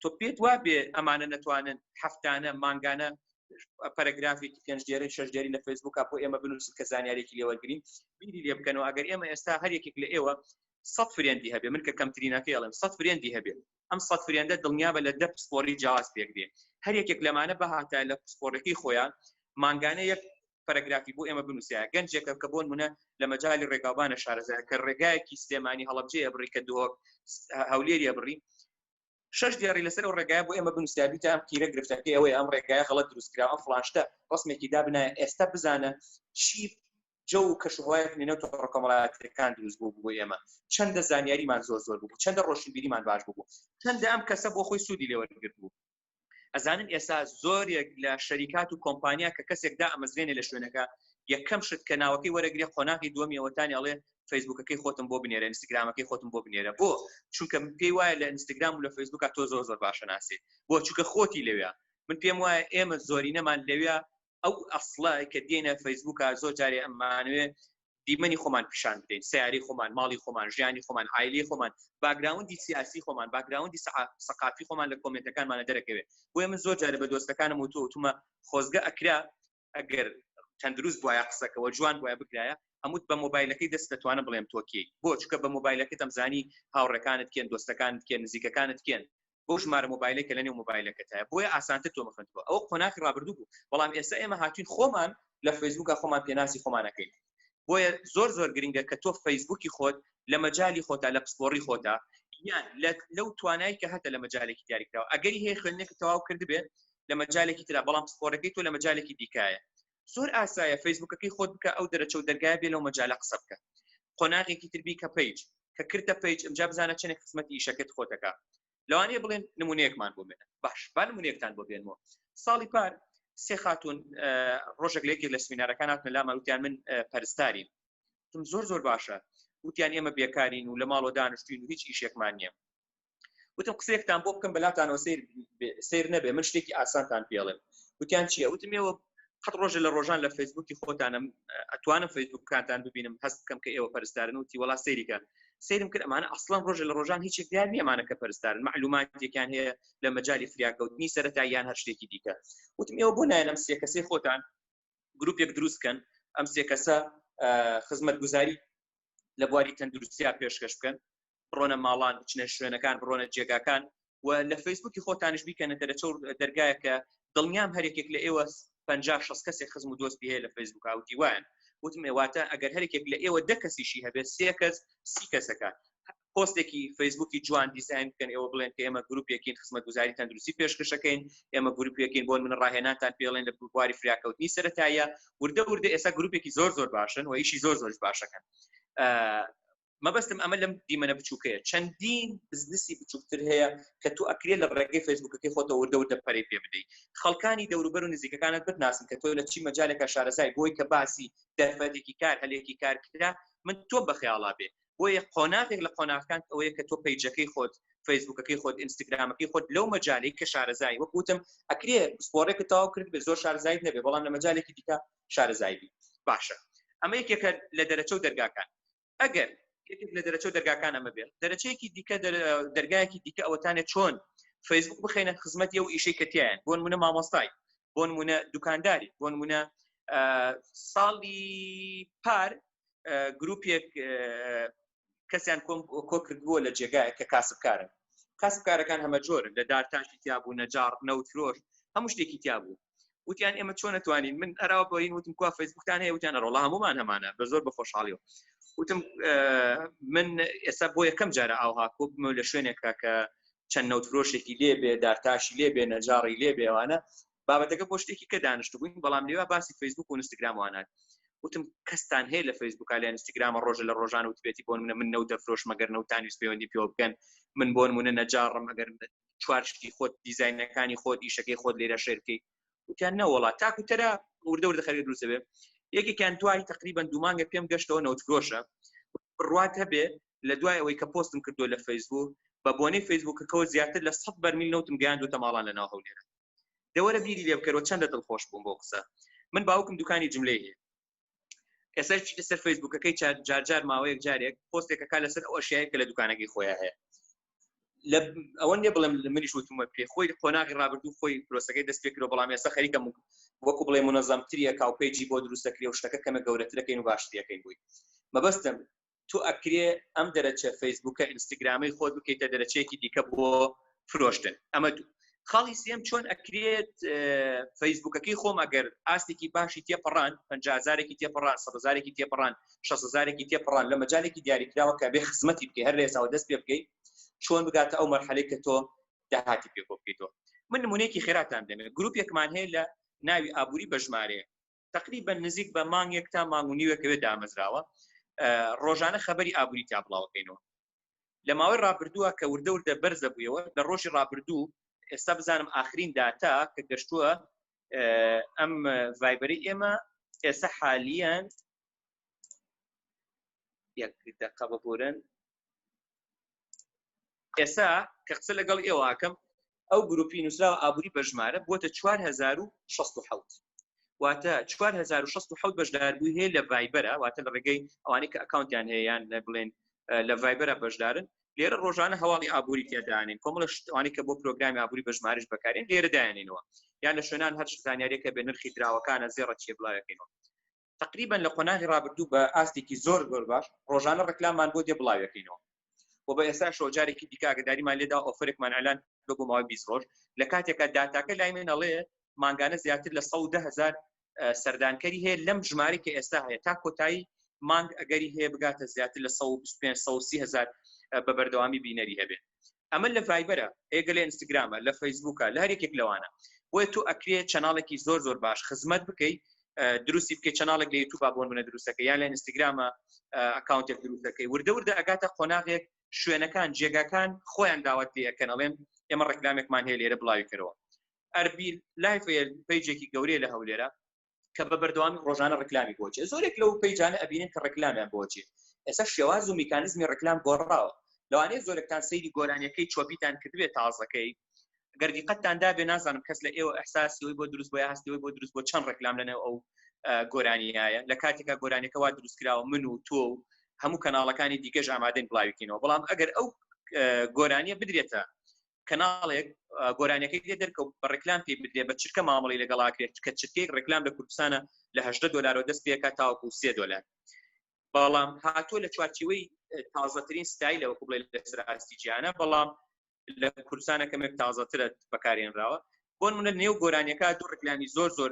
تۆ پێت وابێ ئەمانە نەتوانن هەفتانە مانگانە پەرەگرافێکی پێنج دێرە شش دێری لە فەیسبوکە بۆ ئێمە بنووسن کە زانیارێکی لێوەرگین بیری لێ بکەنەوە ئەگەر ئێمە ئێستا هەر یەکێک لە ئێوە سەد فرێندی هەبێ من کە کەمترینەکەی ئەڵێم سەد فرێندی هەبێ ئەم سەد فرێندە دڵنیا بە لە دە پسپۆری جیاواز پێک دێ هەر یەکێک لەمانە بەهاتە لە پسپۆرەکەی خۆیان مانگانە یەک پەرەگرافی بۆ ئێمە بنووسە گەنجێکە کە بۆن منە لە مەجای ڕێگاوبانە شارەزە کە ڕێگایەکی سلێمانی هەڵبجەیە بڕی کە دۆک هەولێریە بڕی شش دیاری لەسەر و ڕێگای بۆ ئێمە بنووسیابی تا کیرە گرفتەکە ئەوەی ئەم ڕێگای هەڵە دروستکرا ئەم فلاشتە ڕسمێکی دابنا ئێستا بزانە چی جە و کەشوهوای نێنە ڕکۆمەڵاتەکان دروست بوو بۆ ئێمە چەندە زانیاریمان زۆر زۆر بوو چەندە ڕۆشنبیریمان باش بوو چەندە ئەم کەسە بۆ خۆی سوودی لێوەرگرت بوو ئەزانن ئێستا زۆرێک لە شەریکات و کۆمپانیا کە کەسێکدا ئەمەزرێنێ لە شوێنەکە یەکەم شت کە ناوەکەی وەرەگرێ قۆناغی دووەمیەوەتانی ئەڵێ فەیسبوکەکەی خۆتم بۆ بنێرە ئینستاگرامەکەی خۆتم بۆ بنێرە بۆ چونکە پێی وایە لە ئینستاگرام و لە فەیسبوکە تۆ زۆر زۆر باشە ناسێ بۆ چونکە خۆتی لەوێ من پێم وایە ئێمە زۆرینەمان لەوێ ئەو ئەسڵە کە دێنە فەیسبوکە زۆر جارێ ئەمانوێ دیمەنی خۆمان پیشان بدەین سیاری خۆمان ماڵی خۆمان ژیانی خۆمان ئایلی خۆمان باگراوندی سیاسی خۆمان باگراوندی سەقافی خۆمان لە کۆمنتەکانمانە دەرەکەوێت بۆیە من زۆر جارە بە دۆستەکانم و توتمە خۆزگە ئەکرا ئەگەر تەندروست بواە قسەکەەوە جوان بواە بگرایە ئەموت بە مۆبایلەکەی دەست دەتوانم بڵێم تۆکی بۆ چکە بە مۆبایلەکە دەمزانی هاوڕەکانت کێن دۆستەکانت کێن نزیکەکانت کێن بۆ ژمارە مۆبایلە کە لەنێو مۆبایلەکەتە بۆیە ئاسانتر تۆ بخند بۆ ئەو قۆناخی ڕابردوو بوو بەڵام ئێستا ئێمە هاتوین خۆمان لە فەیسبوکە خۆمان پێناسی خۆمانەکەین بۆیە زۆر زۆر گرنگە کە تۆ فەیسبوکی خۆت لە مەجای خۆتا لە پسپۆڕی خۆتا یان لەو توانایی کە هەتە لە مەجالێکی دیاریکراوە ئەگەری هەیە خوێندنێکی تەواو کردبێت لە مەجالێکی تررا بەڵام پسپۆرەکەی تۆ لە مەجالێکی دیکایە زۆر ئاسایە فەیسبوکەکەی خۆت بکە ئەو دەرەچە و دەرگای بێ لەو مەجالە قسە بکە قۆناغێکی تربی کە پیج کە کردە پیج ئەمجا بزانە چەنێک خزمەتی ئیشەکەت خۆتەکە لەوانەیە بڵێن نمونەیەکمان بۆ بێنە باش با نمونەیەکتان بۆ بێنەوە ساڵی پار سێ خاتون ڕۆژێک لە یەکێک لە سمینارەکان هاتنە لامان وتیان من پەرستارین تم زۆر زۆر باشە وتیان ئێمە بێکارین و لە ماڵۆ دانیشتوین و هیچ ئیشێکمان نییە وتم قسێکتان بۆ بکەم بەلاتانەوە سیر سیر نەبێ من شتێکی ئاسانتان پێڵێم وتیان چیە وتمەوە قەت ڕۆژە لە ڕۆژان لە فەیسبوکی خۆتانم ئەتوانم فەیسبوکانتان ببینم هەست بکەم کە ئێوە پەرستارن وتی وڵا سەیریکە سرم کرد ئەمانە ئەسڵان ڕۆژە لە ڕۆژان هیچ دیار نیەمانە کە پەرستارن معلوماتێکیان هەیە لە مەجای فریاکەوتنی سەرەتا یان هەر شتێکی دیکە وتم ئێوە بۆ نایەنم سێ کەسی خۆتان گروپێک دروست کەن ئەم سێ کەسە خزمەت گوزاری لە بواری تەندروستیا پێشکەش بکەن بڕۆنە ماڵان بچنە شوێنەکان بڕۆنە جێگاکان و لە فەیسبوکی خۆتانش بیکەنە دەرەچە دەرگایەکە دڵنیام هەرێکێک لە ئێوە پ شخص کەسێک خزم و دۆستی هەیە لە فەیسبوک و دیوان وتمێواتە ئەگەر هەرێکێک لە ئێوە دە کەسیشی هەبێت سێ کەس سی کەسەکە پۆستێکی فەیسبوکی جوان دیزین بکەن ئێوە بڵێن کە ئێمە گروپێکین خزمەتگوزاری تەندروستی پێشکەشەکەین ئێمە گروپێکین بۆن من ڕاهێنانتان پێڵێن لە بواری فریاکەوتنی سەتایە وردە وردە ئێستا گروپێکی زۆر زۆر باشن و ئیشی زۆر زۆرش باشەکەن مەبەستم ئەمە لەم دیمەە بچووکەیە چەندین بزنسی بچووکتر هەیە کە تو ئەکرێت لە ڕێگەی فەیسبوکەکەی خۆتە وردە و دەپەری پێ بدەیت خەڵکانی دەوروبەر و نزیکەکانت بتناسن کە تۆ لە چی مەجالێکە شارەزای بۆی کە باسی دەرفەتێکی کار هەلێکی کارکرا من تۆ بەخیاڵا بێ بۆیە قۆناغێک لە قۆناغەکان ئەوەیە کە تۆ پەیجەکەی خۆت فەیسبوکەکەی خۆت ئینستاگرامەکەی خۆت لەو مەجاالەی کە شارەزایی وەک وتم ئەکرێ پسپۆڕێکە تاو کرد بێ زۆر شارزایت نەبێ بەڵام لە مەجالێکی دیکە شارەزایبی باشە ئەمە یەکێکە لە دەرەچە و دەرگاکان ئەگەر لە دەرەچە و دەرگاکان ئەمە بێت دەرەچەیەکی دیکە دەرگایەکی دیکە ئەوەتانێت چۆن فەیسبوک بخینە خزمەت ئەو ئیشەی کەتیان بۆ منە مامۆستای بۆ منە دوکانداری بۆ منە ساڵی پار گروپێک کەسیان کۆکردبووە لە جێگایە کە کاسبکارن کاسبکارەکان هەمە جۆر لە دارتاشی تیابوو نەجار نەوت فرۆش هەموو شتێکی تیابوو وتیان ئێمە چۆن نتوانین من ئەراوە بۆین وتم کو فەیسبوکتان هەیە وتیان ڕۆڵ هەمومان هەمانە بە زۆر بە خۆشحاڵی و وتم من ئێستا بۆ یەکەم جارە ئاوها کۆبمە لە شوێنێکە کە چەند نەوتفرۆشێکی لێبێ دارتاشی لێبێ نەجاڕی لێبێوانە بابەتەکە بۆ شتێکی کە دانیشتبووین بەڵام لێوا باسی فەیسبوک و ئینستاگرام وانات وتم کەستان هەیە لە فەیسبوک لە ئینستاگرامە ڕۆژە لە ڕۆژان و توێتی بۆن منە من نەوتە فرۆش مەگەر نەوتانویس پەیوەندی پێوە بکەن من بۆن منە نەجاڕم ئەگەر چوارشتی خۆت دیزینەکانی خۆت ئیشەکەی خۆت لێرە شێرکەی وتیان نەوەڵات تاکو تەرە وردە وردە خەری دروستەبێ یەکێکیان دوای تقریبان دومانگە پێم گەشتەوە نەوت فرۆشە بڕوات هەبێ لە دوای ئەوەی کە پۆستم کردو لە فەیسبوو بە بۆنەی فەیسبووکەکەەوە زیاتر لە سە بەرمیل نەوتم گەیاندوتە ماڵان لە ناو هەولێرە دە وەرە بیری لێ بکەرەوە چەندە دڵخۆش بووم بۆ قسە من باوکم دوکانی جملەی هەیە ئێستا چیتە سەر فەیسبوکەکەی جار جار ماوەیەک جارێک پۆستێکە کا لەسەر ئەو شایە کە لە دوکانەکەی خۆیان هەیە لە ئەوە نیە بڵێم منیش وتمە پێ خۆی قۆناغی ڕابردوو خۆی پرۆسەکەی دەست پێکرەوە بەڵام ێستا خەریکە وەکو بڵێ منەزەمتریە کاوپێجی بۆ دروستەکری و شتەکە کەمە گەورەترەکەین و باشتریەکەین بووی مەبەستم تۆ ئەکرێ ئەم دەرەچە فەیسبووکە ئینستاگرامەی خۆت بکەیتە دەرەچەیەکی دیکە بۆ فرۆشتن ئەمە دوو خاڵی سێم چۆن ئەکرێت فەیسبوکەکەی خۆم ئەگەر ئاستێکی باشی تێپەڕان پزارێکی تێپەڕان سەزارێکی تێپەڕان شزارێکی تێپەڕان لە مەجارێکی دیاریکراوە کە بێ خزمەتی بکەی هەر لێساوە دەست پێ بکەیت چۆن بگاتە ئەو مەرحەلەی کە تۆ داهاتی پێ بۆ بکەیتەوە من نمونێکی خێراتان دەمێت گرروپێکمان هەیە لە ناوی ئابووری بەژمارەیە تقریبا نزیک بە مانگێک تا مانگ و نیوەکەوێت دامەزراوە ڕۆژانە خەبەری ئابووری تا بڵاوکەینەوە لە ماوەی ڕابردووە کە وردەوردە بەرزە بوویەوە لە ڕۆژی ڕابردوو ئێستا بزانم ئاخرین داتا کە گەشتووە ئەم ڤایبەری ئێمە ئێستا حالیان یەک دقە ببورن ئێسا کە قسە لەگەڵ ئێوە ئاکەم ئەو گروپی نووسراوە ئابووری بە ژمارە بووەتە 1960 واتە 1960 بەشداربووی هەیە لە ڤایبەرە واتە لە ڕێگەی ئەوانەی کە ئەکاونتیان هەیەیان لە بڵێن لە ڤایبەرە بەشدارن لێرە ڕۆژانە هەواڵی ئابووری تێدانین کۆمەڵە شتوانی کە بۆ پرۆگرامی ئابووری بەژمارش بەکارین لێرە دایانینەوە یان لە شوێنان هەر زانیارەکە بێ نرخی دراوەکانە زێڕە چێ بڵاوەکەینەوە تقریبا لە قۆناغی ڕابردوو بە ئاستێکی زۆر زۆر باش ڕۆژانە ڕکلاممان بۆ دێ بڵاوەکەینەوە و بە ئێستا شۆ جارێکی دیکاگەداریمان لێدا ئۆفرێکمان ئەلان بە بۆ ماوەی 20 ڕۆژ لە کاتێکە داتاکە لای من ئەڵێ مانگانە زیاتر لە 100 هزار سەردانکەری هەیە لەم ژمارە کە ئێستا هەیە تا کۆتایی مانگ ئەگەری هەیە بگاتە زیاتر لە 125 هزار بە بەردەوامی بینەری هەبێت ئەمە لە ڤایبەرە ئێگەلێ ئینستاگرامە لە فەیسبووکە لە هەرێکێک لەوانە بۆیە تۆ ئەکرێ چەناڵێکی زۆر زۆر باش خزمەت بکەیت دروستی بکە چەناڵێک لە یوتوب بۆن بنە دروستەکە یان لە ئینستاگرامە ئەکاونتێک دروستەکەی وردە وردە ئەگاتە قۆناغێک شوێنەکان جێگاکان خۆیان داوات لەکەن ئەڵێن ئێمە ڕێکلامێکمان هەیە لێرە بڵاوی کەەوە ئەربیل لایفێل پیجێکی گەورەیە لە هەولێرە کە بە بەردەوامی ڕۆژانە ڕکلامی بۆچێ زۆرێک لەو پەیجانە ئەبینن کە ڕکلامیان بۆچێ ئێستا شێواز و میکانزمی ڕکلام گۆڕاوە لەوانەیە زۆرێکتان سەیری گۆرانیەکەی چۆبیتان کردبێت تازەکەی گەردی قەتتان دابێ نازانم کەس لە ئێوە ئەحساسیەوەی بۆ دروست بۆ هەستیەوەی بۆ دروست بۆ چەند ڕکلام لەنێو ئەو گۆرانیایە لە کاتێکا گۆرانەکە وا دروست کراوە من و تۆ و هەموو کەناڵەکانی دیکەش ئامادەن بڵاویکەینەوە بەڵام ئەگەر ئەو گۆرانیە بدرێتە کەناڵێک گۆرانیەکەی لێ دەرکەوت بە ڕێکلام پێ بدرێ بە چرکە مامەڵی لەگەڵاکرێت کە چرکەیەک ڕێکلام لە کوردستانە لە هەدە دلارەوە دەست پێکات تاوەکو سێ دلار بەڵام هاتۆ لە چوارچیوەی تازەترین ستایل لەوە بڵێ لەسەر ئاستی جیانە بەڵام لە کوردستانە کەمێک تازەترە بەکارێنراوە بۆن منە نێو گۆرانیەکە دوو ڕکلامی زۆر زۆر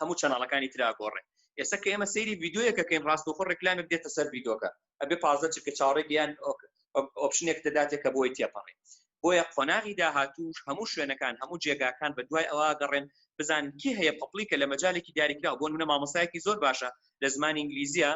هەموو چەناڵەکانی ترا گۆڕێ ئێستا کە ئێمە سەیری یددیوەکەکەین ڕاستەخۆ ڕێکلامێک دێتە سەر یددیوکە ئەبێ پازە چکە چاڕێ بیان ئۆپشنێک دەداتێک کە بۆی تێپەڕێ بۆیە قۆناغی داهاتوش هەموو شوێنەکان هەموو جێگاکان بە دوای ئەوە گەڕێن بزان کی هەیە پپلیکە لە مەجالێکی دیاریکراوە بۆ منە مامۆسایەکی زۆر باشە لە زمانی ئینگلیزیە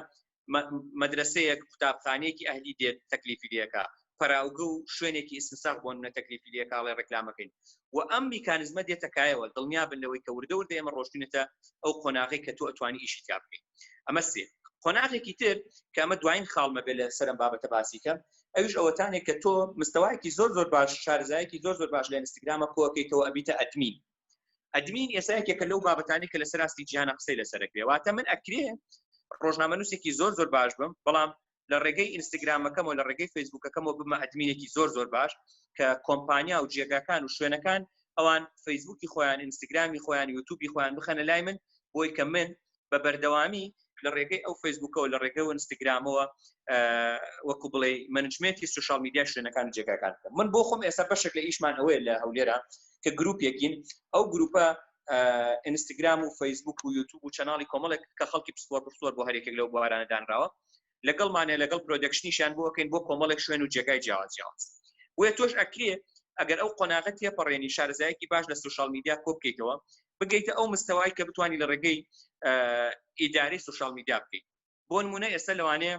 مەدرەسەیەک قوتابخانەیەکی ئەهلی دێت تەکلیفی لەکە پەراوگە و شوێنێکی ئیسنساخ بۆن نە تەکلیفی لەکڵێ ڕێکلامەکەین و ئەم میکانزمە دێتەکایەوە دڵنیا بن لەوەی کە وردە وردە ئێمە ڕۆشتونێتە ئەو قۆناغی کە تۆ ئەتوانی ئیشی تا بکەین ئەمە سێ قۆناغێکی تر کە ئەمە دوایین خاڵمە بێ لە سەرم بابەتە باسیکە ئەوش ئەوەتانێک کە تۆ مستەوایەکی زۆر زۆر باش شارزایەکی زۆر زۆر باش لە ئینستاگرامە کۆکەیتەوە ئەبیتە ئەدمین ئەدمین ئێستا یەکێکە لەو بابەتانی کە لەسەر ئاستی جیهانە قسەی لەسەرەکرێ واتە من ئەکرێ ڕۆژنامەنووسێکی زۆر زۆر باش بم بەڵام لە ڕێگەی ئینستاگرامەکەم و لە ڕێگەی فەیسبوکەکەمەوە بمە ئەدمینێکی زۆر زۆر باش کە کۆمپانیا و جێگاکان و شوێنەکان ئەوان فەیسبوکی خۆیان ئینستاگرامی خۆیان یوتوبی خۆیان بخەنە لای من بۆی کە من بە بەردەوامی لە ڕێگەی ئەو فەیسبوکەوە لە ڕێگە و ئینستاگرامەوە وەکو بڵێ منجمێتی سوشال میدیا شوێنەکان جێگاکان من بۆ خۆم ئێستا بەشێک لە ئیشمان ئەوەیە لە هەولێرە کە گروپێکین ئەو گروپە ئینستاگرام و فەیسبوک و یوتوب و چناڵی کۆمەڵێک کە خەڵکی پسپۆر پسپۆر بۆ هەرێکێک لەو بوارانە دانراوە لەگەڵمانێ لەگەڵ پرۆدەکشنیشیان بۆ ئەکەین بۆ کۆمەڵێک شوێن و جێگای جیاواز جیاواز بۆیە تۆش ئەکرێ ئەگەر ئەو قۆناغە تێپەڕێنی شارەزایەکی باش لە سوشال میدیا کۆ بکەیتەوە بگەیتە ئەو مستەوای کە بتانی لە ڕێگەی ئیداری سوشال میدیا بکەیت بۆ نمونە ئێستا لەوانەیە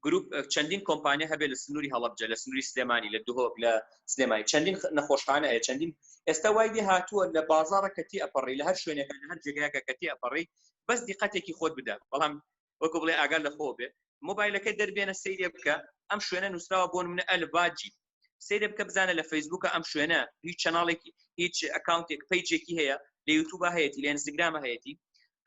گروپ چەندین کۆمپانیا هەبێت لە سنووری هەڵبجە لە سنووری سلێمانی لە دهۆک لە سلێمانی چەندین نەخۆشخانە هەیە چەندین ئێستا وای لێ هاتووە لە بازارە کەتی ئەپەڕی لە هەر شوێنەکە لە هەر جێگایەکە کەتی ئەپەڕی بەس دیقەتێکی خۆت بدە بەڵام وەکو بڵێ ئاگال لە خۆ بێ مۆبایلەکە دەربێنە سەیرێ بکە ئەم شوێنە نووسراوە بۆ منە ئەلباجی سەیرە بکە بزانە لە فەیسبوکە ئەم شوێنە هیچ چناڵێکی هیچ ئەکاونتێک پیجێکی هەیە لە یوتوبە هەیەی لە ئینستاگرام هەیەی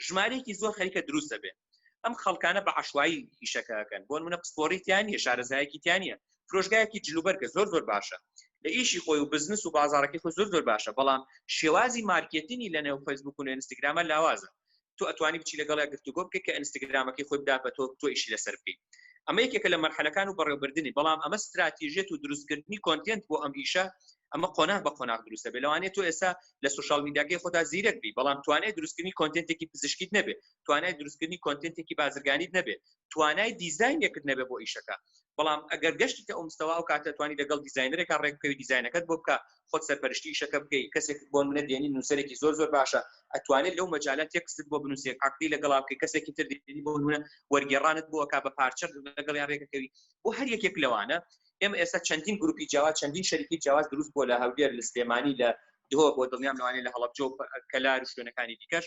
ژمارەیەکی زۆر خەریکە دروست دەبێت ئەم خەڵکانە بە عشوایی ئیشەکەکەن بۆن منە پسپۆریتیان نیە شارەزایەکیتیانە فرۆشگایەکی جلوبەرگە زۆر زۆر باشە لە ئیشی خۆی و بزنس و بازارەکەی خۆ زۆر زۆر باشە بەڵام شێوازی مارکێتنی لە نێو فەیسبوک و لە ئینستاگرامە لاوازە تۆ ئەتوانی بچی لەگەڵ گفتوگۆ بکەیت کە ئینستاگرامەکەی خۆی بدات بە تۆ تۆ ئیشی لەسەر بکەیت ئەمە یەکێکە لە مەرحەلەکان و بەڕێوبردننی بەڵام ئەمە استراتیژێت و دروستکردنی کۆنتێنت بۆ ئەم ئیشە ئەمە قۆناغ بە قۆناغ دروستە بێ لەوانێت تۆ ئێستا لە سوشال میداگەی خۆدا زیرەک بی بەڵام توانای دروستکردنی کۆنتێنتێکی پزیشکیت نەبێت توانای دروستکردنی کۆنتێنتێکی بازرگانیت نەبێت توانای دیزینێکت نەبێ بۆ ئیشەکە بەڵام ئەگەر گەشتی کە ئەومستەوا و کاتە توانی دەگەڵ دیزینەرێکا ڕێک بکەوی دیزینەکەت بۆ بکە خۆت سەرپەرشتی ئیشەکە بکەی کەسێک بۆ منە دێنی نووسەرێکی زۆر زۆر باشە ئەتوانێت لەو مەجالات تێکست بۆ بنووسێک عقدی لەگەڵا بکەی کەسێکی تر دێنی بۆ منە وەرگێڕانت بۆ کا بە پارچە لەگەڵ یان ڕێکەکەوی بۆ هەر یەکێک لەوانە ئێمە ئێستا چەندین گروپی جیاواز چەندین شەریکی جیاواز دروست بۆ لە هەولێر لە سلێمانی لە دهۆ بۆ دڵنیام لەوانەیە لە هەڵەبجە و کەلار و شوێنەکانی دیکەش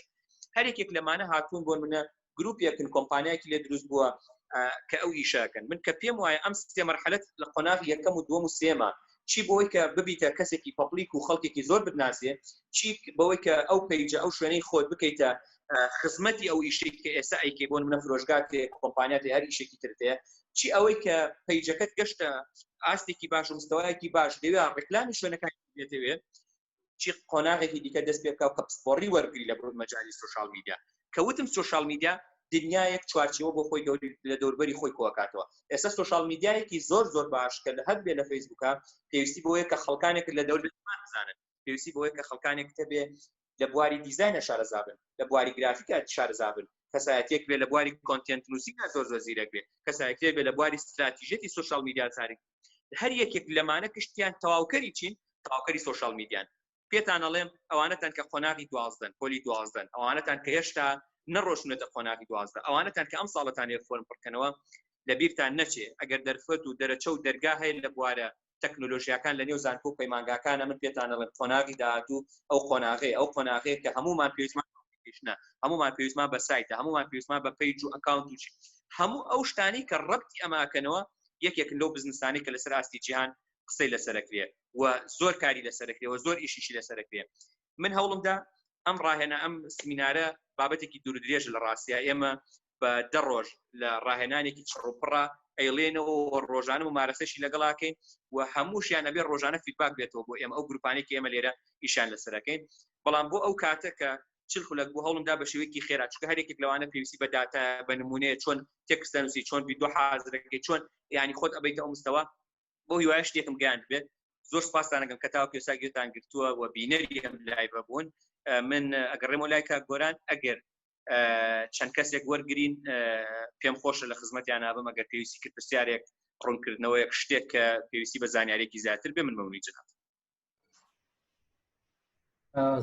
هەر یەکێک لەمانە هاتوون بۆ منە گروپێکن کۆمپانیایکی لێ دروست بووە کە ئەو ئیشاکەن من کە پێم وایە ئەم سێ مەرحەلەت لە قۆناغ یەکەم و دووەم و سێمە چی بۆی کە ببیتە کەسێکی پەپلیک و خەڵکێکی زۆر بناسێ چی بەوەی کە ئەو پیجە ئەو شوێنەی خۆت بکەیتە خزمەتی ئەو ئیشێک کە ئێستا ئەیکەی بۆن منە فرۆشگاتێ کۆمپانیاتی هەر ئیشێکی ترتێ چی ئەوەی کە پیجەکەت گەشتە ئاستێکی باش و مستەوایەکی باش دەوێ ڕێکلامی شوێنەکان دێتەوێت چی قۆناغێکی دیکە دەست پێ بکاو کە پسپۆڕی وەرگری لە بڕود مەجای سوشال میدیا کە وتم سوشال میدیا دنیایەک چوارچەوە بۆ خۆی لە دەوربەری خۆی کۆکاتەوە ئێستا سوشال میدیایەکی زۆر زۆر باش کە لە هەر بێ لە فەیسبووکە پێویستی بۆیە کە خەڵکانێک لە دەور بزانن پێویستی بۆیە کە خەڵکانێک تەبێ لە بواری دیزایە شارەزابن لە بواری گرافیکە شارەزابن کەسایەتێک بێ لە بواری کۆنتنت نووسیکە زۆر زۆر زیرەک بێ کەسایەتێک بێ لە بواری استراتیژێتی سوشال میدیا زارێک هەر یەکێک لەمانە کشتیان تەواوکەری چین تاوکەری سوۆشال میدیان پێتان ئەڵێم ئەوانەتان کە قۆناغی دوازدەن پۆلی دوازدەن ئەوانەتان کە هێشتا نەڕۆشنێتە قۆناغی دوازدە ئەوانەتان کە ئەم ساڵەتان لێ فۆرم پڕکەنەوە لە بیرتان نەچێ ئەگەر دەرفەت و دەرەچە و دەرگا هەیە لە بوارە تەکنۆلۆژیاکان لە نێو زانکۆ و پەیمانگاکانە من پێتانەڵم قۆناغی داهاتوو ئەو قۆناغی ئەو قۆناغەیە کە هەمومان پێویستمان نۆتیفیکیشنە هەمومان پێویستمان بە سایتە هەمومان پێویستمان بە پەیج و ئەکاونت و هەموو ئەو شتانی کە ڕەبتی ئەماکەنەوە یەکێکن لەو بزنسانی کە لەسەر ئاستی جیهان قسەی لەسەرکرێ و زۆر کاری لەسەرکرێەوە زۆر ئیشیشی لەسەرکرێ من هەوڵمدا ئەم ڕاهێنە ئەم سمینارە بابەتێکی دوور درێژ لە ڕاستە ئێمە بە دە ڕۆژ لە ڕاهێنانێکی چڕوپڕە ئەیڵێنەوە ڕۆژانە و مارەسەشی لەگەڵاکەین و هەمووشیان ئەبێ ڕۆژانە فیدباک بێتەوە بۆ ئێمە ئەو گروپانێکی ئێمە لێرە ئیشان لەسەرەکەین بەڵام بۆ ئەو کاتە کە چل خولەک بۆ هەڵمدا بە شێوەیەکی خێرا چکە هەرێکێک لەوانە پێویستی بە داتا بە نمونەیە چۆن تێکستەنوسی چۆن بی دو حازرەکەی چۆن ینی خۆت ئەبیت ئەو مستەوە بۆ هیوایە شتێکم گیان بێت زۆر سپاسانەکەم کە تاو پێسا گوێتان گرتووە و بینەری ئەم لایبە بوون من ئەگەڕێمە لایکە گۆران ئەگەر چەند کەسێک وەرگین پێم خۆشە لە خزمەتیان نابم ئەگەر پێویستی کرد پرسیارێک ڕوونکردنەوەیەک شتێک کە پێویستی بە زانیارێکی زیاتر بێ من مەونی جنات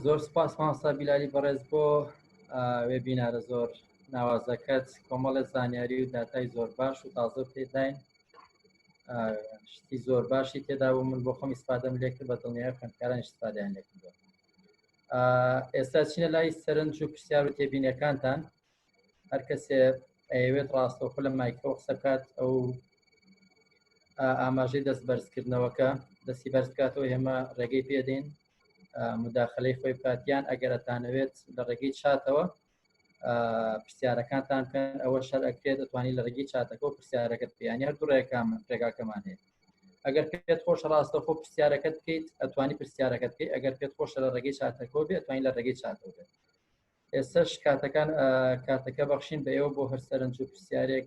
زۆر سپاس ماسا بیلاری بەڕێز بۆ وێ بینارە زۆر ناوازەکەت کۆمەڵە زانیاری و داتای زۆر باش و تازە پێداین شتی زۆر باشی تێدا بوو من بۆ خۆم ئیسپادەم لێکرد بە دڵنیای خوێندکاران شتپادیان لێکردوە ئێستا چینە لای سەرنج و پرسیار و تێبینەکانتان هەر کەسێ ئەیەوێت ڕاستەوخۆ لە مایکەوە قسە بکات ئەو ئاماژەی دەست بەرزکردنەوەکە دەستی بەرز بکاتەوە ئێمە ڕێگەی پێدەین مداخلەی خۆی بکاتیان ئەگەرەتانەوێت لە ڕێگەی چاتەوە پرسیارەکانتان بکەن ئەوە شەر ئەکرێت دەتوانانی لە ڕێگەی چاتەکە و پرسیارەکەت بیانی هەر دوو ڕێکام ڕێگاکەمان هەیە ئەگەر پێت خۆش ڕاستە خۆ پرسیارەکەت بکەیت ئەتوانی پرسیارەکەت بکەیت ئەگەر پێت خۆش لە ڕێگەی چاتەکۆ بێت توانین لە ڕێگەی چاتەوە بێت ئێستش کاتەکان کاتەکە بەخشین بە ئێوە بۆ هەر سەرنج و پرسیارێک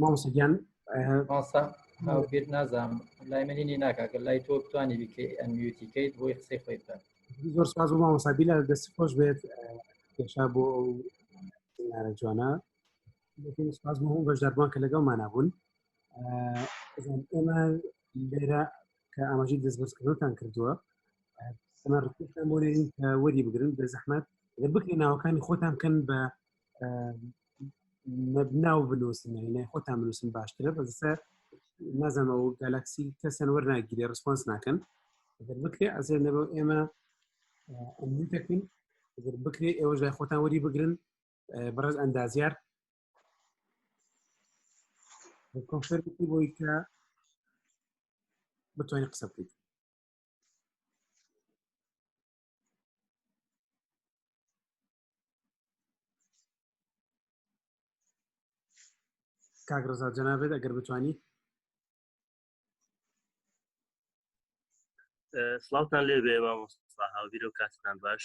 مامۆسەگیان ماسا بێت نازانم لای منی ناکاکە لای تۆ بتوانانی بکەیت ئەنویتی کەیت بۆی قسەی خۆی بکات زۆر ساز و مامۆسابی لە دەست خۆش بێت پێشا بۆ ئەو نارە جوانە سپاس بۆ بەشداربووان کە لەگەڵ مانابوون ئێمە لێرە کە ئاماژی دەستبەرزکردنتان کردووە سەمەڕتان بۆ وەری بگرن بە زەحمت لە بکرێ ناوەکانی خۆتان بکەن بە ناو بنووسن لای خۆتان بنووسن باشترە بەسە نازانەوە گالاکسی کەسەن وەرناگیرێ ڕسپۆنس ناکەن گەر بکرێ ئەزێ نەبەو ئێمە ئەمنی دەکەین گەر بکرێ ئێوەش لای خۆتان وەری بگرن بەڕێز ئەندازیار کۆنفەرمی بۆی کە بتوانین قسە بکەیت کاک ڕزا جەنابێت ئەگەر بتوانیت سلااوان لێ بێ مامۆستا هاوبیرە و کاتتان باش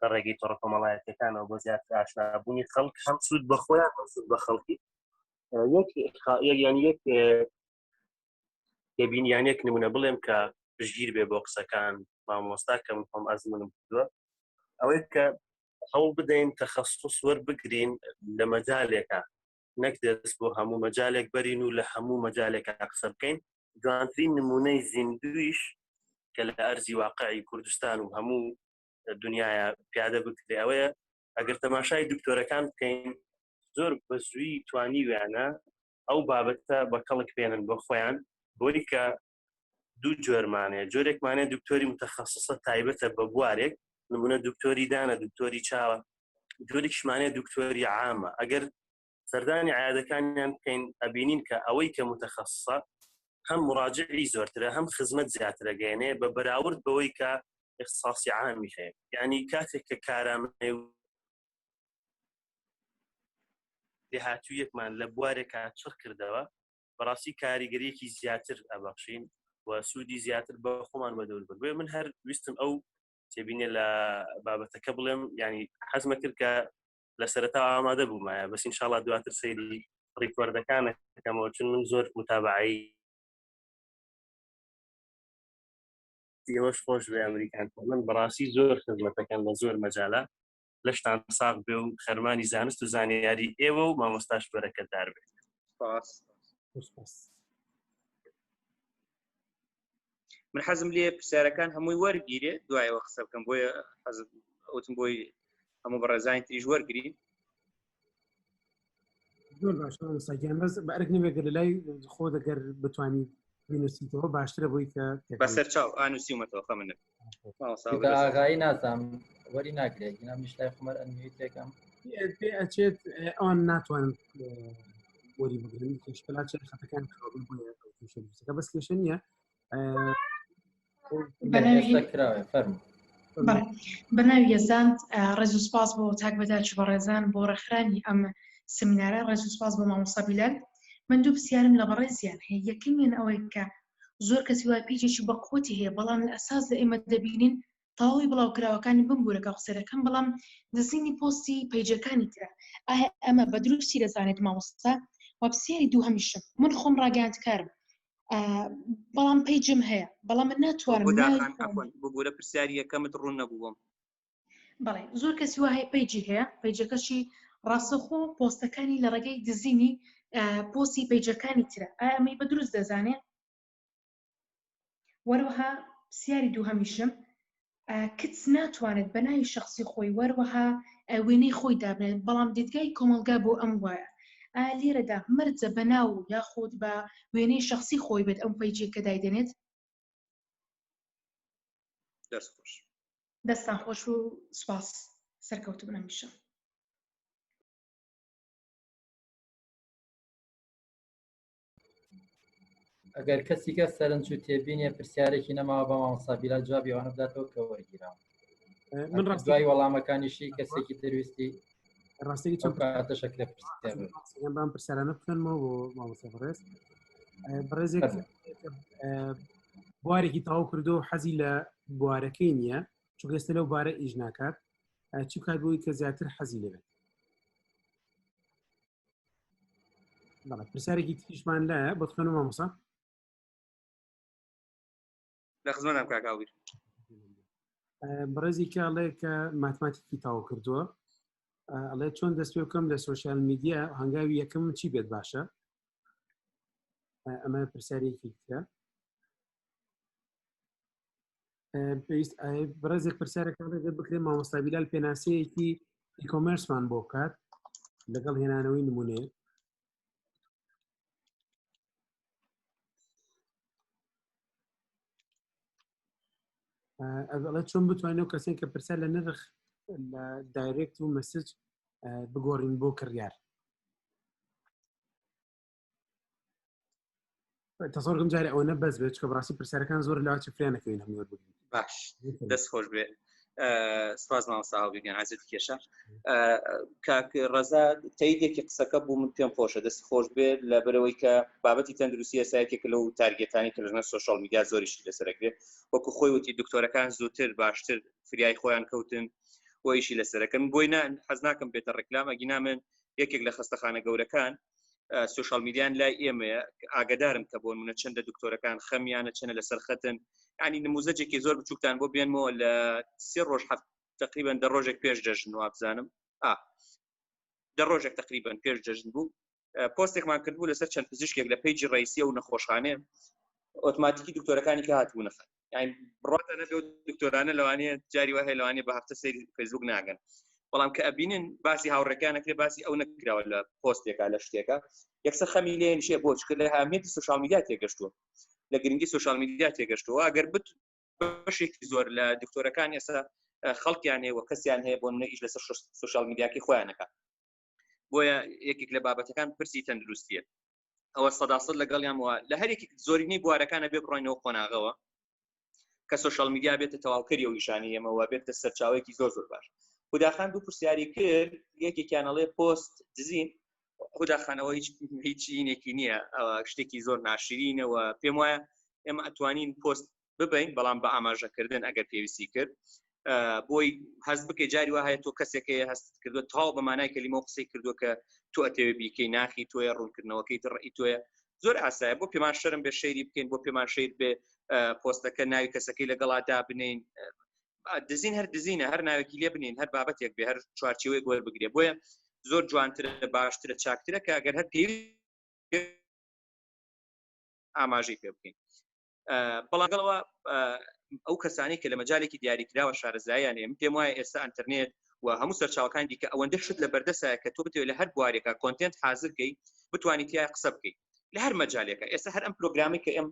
لە ڕێگەی تۆڕە کۆمەڵایەتەکانەوە بۆ زیات ئاشنابوونی خەڵک هەم سوود بە خۆیان سود بە خەڵکی یان یەک دەبین یان یەک نمونە بڵێم کە پشگیر بێ بۆ قسەکان مامۆستا کەم خۆم ئەزمونم کردووە ئەوەی کە هەوڵ بدەین تەخەستوس وەربگرین لە مەجالێکە نەک دەست بۆ هەموو مەجالێک بەرین و لە هەموو مەجالێکە قسە بکەین جوانترین نمونەی زیندویش کە لە ئەرزی واقعی کوردستان و هەموو دنیاە پیادە بکرێ ئەوەیە ئەگەر تەماشای دکتۆرەکان بکەین زۆر بە زووی توانی ویانە ئەو بابەتە بە کەڵک پێێنن بۆ خۆیان بۆی کە دوو جۆرمانەیە جۆرێکمانێ دکتۆری متەخصصە تایبەتە بە بوارێک نمونە دکتۆری دانە دکتۆری چاوە جۆریشمانێ دکتۆری عامە ئەگەر سەردانی عیادەکانیان بکەین ئەبینین کە ئەوەی کە متخصصە هەم مراجعی زۆرترە هەم خزمەت زیاترە گەێنێ بە بەراورد بەوەی کە اختصاصی عامی هەیە یعنی کاتێک کە کارامەی لێهاتوو یەکمان لە بوارێکە چڕ کردەوە بەڕاستی کاریگەریەکی زیاتر ئەبەخشین و سوودی زیاتر بە خۆمان بە دەور بێ من هەر ویستم ئەو تێبینێ لە بابەتەکە بڵێم ینی حەزمە کرد کە لە سەرتا ئامادە بوومایە بەس انشاءڵا دواتر سەیری ڕیکۆردەکانە کەمەوە چون من زۆر متابعی ئێوەش خۆش بێ ئەمریکان من بەڕاستی زۆر خزمەتەکەن لە زۆر مەجاالە لەشتان ساغ بێ و خەرمانی زانست و زانیاری ئێوە و مامۆستاش بەرەکەدار بێت من حەزم لێ پرسیارەکان هەمووی وەرگیرێ دوایەوە قسە بکەم بۆیە حەزم ئەوتم بۆی هەموو بەڕێزانی تریش وەرگری زۆر باش ساگیان بەس بەرگ نمێگە لە لای خۆ دەگەر بتانی بینوسیتەوە باشترە بۆی کە بەسەر چاو ئانوسیومەتەوە خەمن نەبێت ئاغایی نازام وەری ناگرێت گینا میشلای خمەر ئەنوی تێکەم پێ ئەچێت ئەوان ناتوانن وەری بگرن کێشکلا چێت خەتەکان خاڵی بۆە بەس کێشە نییە کراوێ فەرمو بەناوی یەزانند ڕێز و سپاس بۆ تاک بەداچ بە ڕێزان بۆ ڕێکخرانی ئەم سمینارە ڕێز و سپاس بۆ مامۆسا بیلال من دوو پرسیارم لە بەڕێزیان هەیە یەکەمیان ئەوەی کە زۆر کەسی وای پیجێکی بە قوتی هەیە بەڵام لە ئەساس لە ئێمە دەبینین تەواوی بڵاوکراوەکانی بم گورەکە قسە دەکەم بەڵام دزینی پۆستی پەیجەکانی ترە ئایا ئەمە بە دروستی دەزانێت مامۆستا وەپسیاری دوو هەمیشم من خۆم ڕاگەاندکارم بەڵام پەیجم هەیە بەڵام من ناتوانم بگورە پرسیاری یەکەمت ڕوون نەبووم بەڵێ زۆر کەسی وهەیە پیجی هەیە پیجەکەشی ڕاستەخۆ پۆستەکانی لە ڕێگەی دزینی پۆسی پیجەکانی ترە ئەمەی بە دروست دەزانێت وەروەها سیاری دوو هەمیشم کچ ناتوانێت بە ناوی شخصی خۆی وەروەها وێنەی خۆی دابنێت بەڵام دیدگای کۆمەلگا بۆ ئەم وایە لێرەدا مرجە بە ناو یاخود بە وێنەی شخصی خۆی بێت ئەم پیجێکە دایدێنێت دەست خۆش دەستان خۆش و سوپاس سەرکەوت بن هەمیشە ئەگەر کەسیکە سەرنج و تێبینێ پرسیارێکی نەماوە بە مامۆستا بیلال جوابی ئەوانە بداتەوە کە وەرگیراوە من ڕاستای وەڵامەکانیشی کەسێکی دەرویستی ڕاستەکە چەند کاتە شەکرە بام پرسیارانە بخەنمەوە بۆ مامۆستا بەڕێز بەڕێزێک بوارێکی تاو کردو حەزی لە بوارەکەی نییە چگەستە لەو بارە ئیش ناکات چ کات بۆی کە زیاتر حەزی لەبێت پرسیارێکی تیشمان لە بەخەنەوە مامۆسا لە خزمەتم کاک هاویر بڕێزی کاڵێ کە ماتماتیکی تاو کردووە ئەڵێ چۆن دەست پێ بکەم لە سوۆسیال میدیا هەنگاوی یەکەم چی بێت باشە ئەمە پرسیارێکی ترە پێویست بڕێزێک پرسیارەکان دەگەر بکرێت مامۆستابیلال پێناسەیەکی ئیکۆمرسمان بۆ بکات لەگەڵ هێنانەوەی نمونێ ئەڵە چۆن بتوانین و کەسێن کە پرسە لە نرخ لە دایرێکت و مەسج بگۆڕین بۆ کڕیار تەسۆرگم جارە ئەوە نە بەس بێت کە بڕاستی پرسیارەکان زۆر لاچ فرانەکەین هەمووە بگرین باش دەست خۆش بێ سپاس مامەساهاویگەن عزیت کێشە کاک ڕەزا تەیدێکی قسەکە بوو من پێم خۆشە دەست خۆش بێ لە بەرەوەی کە بابەتی تەندروستی ئەسایەکێک لەو تارگێتانی کە لەژنە سوۆشال میدیا زۆریشی لەسەرەگرێت وەکو خۆی وتی دکتۆرەکان زووتر باشتر فریای خۆیان کەوتن بۆیشی لەسەرەکەم بۆی نان حەز ناکەم بێتە ڕێکلام ئەگینا من یەکێک لە خستەخانە گەورەکان سوشال میدیان لای ئێمەیە ئاگدارم کە بۆن منە چەندە دکتۆرەکان خەمیانە چەنە لەسەر خەتن ینی نموزەجێکی زۆر بچووکتان بۆ بێنمەوە لە سێ ڕۆژ هەفت تقریبان دە ڕۆژێک پێش جەژن وابزانم دە ڕۆژێک تقریبان پێش جەژن بوو پۆستێکمان کردبوو لەسەر چەند پزیشکێک لە پیجی ڕیسی و نەخۆشخانێ ئۆتماتیکی دکتۆرەکانی کە هاتبوو نەخەن بڕاتەنە دکتۆرانە لەوانەیە جاری وهەیە لەوانێ بە هەفتە سری فەیسبوک ناگەن بەڵام کە ئەبینن باسی هاوڕێکانەکرێ باسی ئەو نەکراوە لە پۆستێکا لە شتێکە یەکسە خەمی لێن شێ بۆ چکە لە هامێتی سوشال میدیا تێگەشتووە لە گرنگی سوشال میدیا تێگەشتووە ئەگەر بت بەشێکی زۆر لە دکتۆرەکان ئێستا خەڵکیان هەیە و کەسیان هەیە بۆ منە ئیش لەسەر سوشال میدیاکی خۆیانەکە بۆیە یەکێک لە بابەتەکان پرسی تەندروستیە ئەوە سەداسە لەگەڵیان وە لە هەرێکی زۆرینەی بوارەکانە بێ بڕۆینەوە قۆناغەوە کە سوۆشال میدیا بێتە تەواوکەری و نیشانی ئەمەوە بێتە سەرچاوێکی زۆر زۆر باش خوداخان دوو پرسیاری کرد یەکێکیانەڵێ پۆست دزین خوداخانەوە هیچ هیچینێکی نییە شتێکی زۆر ناشرینەوە پێم وایە ئێمە ئەتوانین پۆست ببین بەڵام بە ئاماژەکردن ئەگەر پێویستی کرد بۆی هەست بکە جاری وە هەیە تۆ کەسێکی هەست کردو تاو بە مانای کەلیمە قسەی کردو کە تۆ ئەتەوێ بیکەی ناخی تۆیە ڕوونکردنەوەکەی تڕی تۆە زۆر ئاسایە بۆ پێمان شەرم بێ شەیری بکەین بۆ پێمان شیر بێ پۆستەکە ناوی کەسەکەی لەگەڵا دابنین دزین هەر دزینە هەر ناوێکی لێ بنین هەر بابەتێک بێ هەر چوارچەوەی گۆر بگرێ بۆیە زۆر جوانترە باشترە چاکترە کە گەر هەر پێوی ئاماژەی پێ بکەین بەڵاگەڵەوە ئەو کەسانی کە لە مەجالێکی دیاریکراوە شارەزایان هەیە پێم وایە ئێستا ئەتەرنێت و هەموو سەرچاوکان دیکە ئەوەندە شت لە بەردەسە کە تۆ بتێت لە هەر بوارێکە کۆنتنت حازرکەی بتوانیت یا قسە بکەیت لە هەر مەجالێکە ئێستا هەر ئەم پرۆگرامی کە ئەم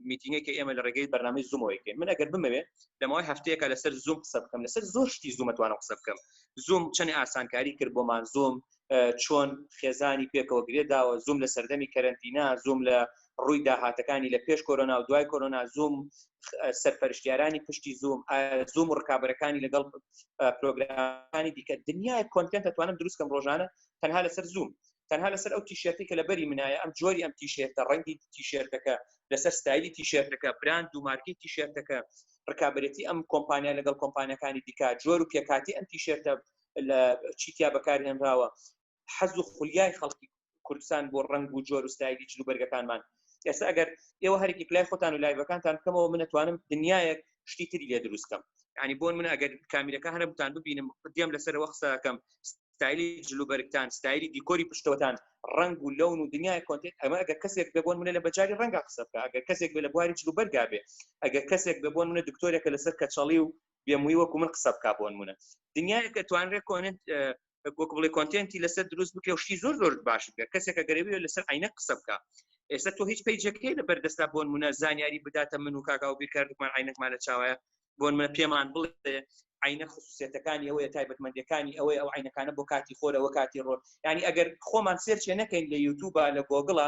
میتینگێکی ئێمە لە ڕێگەی بەرنامی زومەوەیکە من ئەگەر بمەوێت لەمەوەی هەفتەیەکە لەسەر زوم قسە بکەم لەسەر زۆر شتی زومەتوانە قسە بکەم زوم چەند ئاسانکاری کرد بۆمان زۆم چۆن خێزانی پێکەوە گرێ داوە زووم لە سەردەمی کەرنتینا زووم لە ڕووی داهاتەکانی لە پێش کۆرۆنا و دوای کۆرۆنا زووم سەرپەرشتیارانی پشتی زووم زووم و ڕکابەرەکانی لەگەڵ پرۆگرامەکانی دیکە دنیای کۆنتنت دەتوانم دروستکەم ڕۆژانە تەنها لەسەر زووم تەنها لەسەر ئەو تیشێتی کە لە بەری منایە ئەم جۆری ئەم تیشێتە ڕەنگی تیشێتەکە لەسەر ستایلی تیشێتەکە براند و مارکی تیشێتەکە ڕکابەتی ئەم کۆمپانیا لەگەڵ کۆمپانیەکانی دیکە جۆر و پێکاتی ئەم تیشێتە لە چیتیا بەکارهێنراوە حەز و خولیای خەڵکی کوردستان بۆ ڕنگ و جۆر و ستایلی جلو بەرگەکانمان ئێستا ئەگەر ئێوە هەرێکی پلای خۆتان و لایڤەکانتان بکەمەوە منەتوانم دنیایەک شتی تری لێ دروستکەم ینی بۆن من ئەگەر کامیرەکە هەرە بتان ببینم دێم لەسەرەوە قسەکەم ستایلی جلوبەرگتان ستایلی دیکۆری پشتەوەتان ڕنگ و لەون و دنیای کۆنتێت ئەمە ئەگە کەسێک ببوون منە لە بەجاری ڕەنگە قسە بکە ئەگەر کەسێک بێ لە بواری جلوبەرگا بێ ئەگەر کەسێک ببوون منە دکتۆرێکە لەسەر کەچەڵی و بێموی وەکو من قسە بکە بۆنمونە دنیاەکە توانرێ کۆنت وەک بڵێ کۆنتێنتی لەسەر دروست بکە و شتی زۆر زۆر باش بکە کەسێکە گەرەوی لەسەر عینە قسە بکە ئێستا تۆ هیچ پیجەکەی لە بەردەستا بۆن منە زانیاری بداتە من و کاکا و بیرکردمان عینەکمان لە چاوایە بۆن منە پێمان بڵێ عینە خصوصێتەکانی ئەوەیە تایبەتمەندەکانی ئەوەیە ئەو عینەکانە بۆ کاتی خۆرەوە کاتی ڕۆژ ینی ئەگەر خۆمان سێرچێ نەکەین لە یوتوبە لە گۆگڵە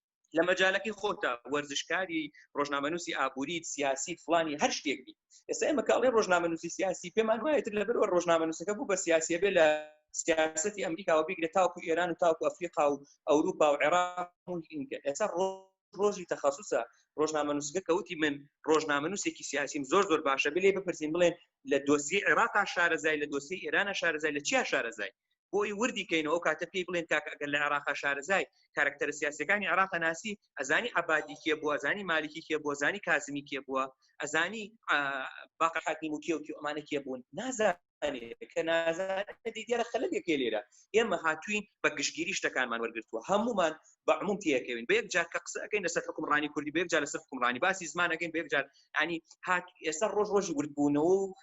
لە مەجالەکەی خۆتە وەرزشکاری ڕۆژنامەنووسی ئابووریت سیاسی فلانی هەر شتێک بیت ئێستا ئێمە کاڵێ ڕۆژنامەنووسی سیاسی پێمان وایە تر لەبەرەوە ڕۆژنامەنووسەکە بوو بە سیاسیە بێ لە سیاستی ئەمریکاوە بگرە تاوکو ئێران و تاوکو ئەفریقا و ئەوروپا و عێراق ئێستا ڕۆژی تەخصصە ڕۆژنامە نووسگە کەوتی من ڕۆژنامە نووسێکی سیاسیم زۆر زۆر باشە بلێ بپرسین بڵێن لە دۆسی عێراقا شارەزای لە دۆسی ئێرانە شارەزای لە چیا شارەزای بۆی وردی کەینەوە ئەو کاتە پێی بڵێن کاکە ئەگەر لە عێراقا شارەزای کارەکتەرە سیاسیەکانی عێراقە ناسی ئەزانی عەبادی کێ بووە ئەزانی مالیکی کێ بووە ئەزانی کازمی کێ بووە ئەزانی باقە حاکیم و کێ و کێ ئەمانە کێ بوون نازانێ کە نازانێ دیارە خەلەلێکێ لێرە ئێمە هاتووین بە گشتگیری شتەکانمان وەرگرتووە هەمومان بە عموم تێکەوین بە یەک جار کە قسە ئەەکەین لەسەر حکومڕانی کوردی بە یەک جار لەسەر حکومڕانی باسی زمانەکەین بە یەک جار ئەنی هات ئێستا ڕۆژ ڕۆژی وردبوونەوە و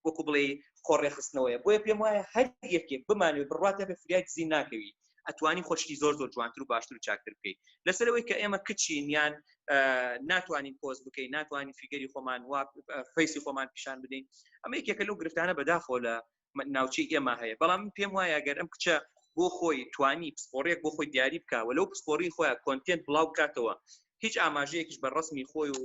وەکو بڵێ خۆڕێخستنەوەیە بۆیە پێم وایە هەر یەکێک بمانێ بڕاتە بە فریای دزی ناکەوی ئەتوانی خۆشتی زۆر زۆر جوانتر و باشتر و چاکتر بکەیت لەسەرەوەی کە ئێمە کچین یان ناتوانین پۆز بکەین ناتوانین فیگەری خۆمان وا فەیسی خۆمان پیشان بدەین ئەمە یەکێکە لەو گرفتانە بەداخۆ لە ناوچەی ئێمە هەیە بەڵام پێم وایە گەر ئەم کچە بۆ خۆی توانی پسپۆڕێک بۆ خۆی دیاری بکەوە لەو پسپۆری خۆیان کۆنتێنت بڵاو بکاتەوە هیچ ئاماژەیەکیش بە ڕسمی خۆی و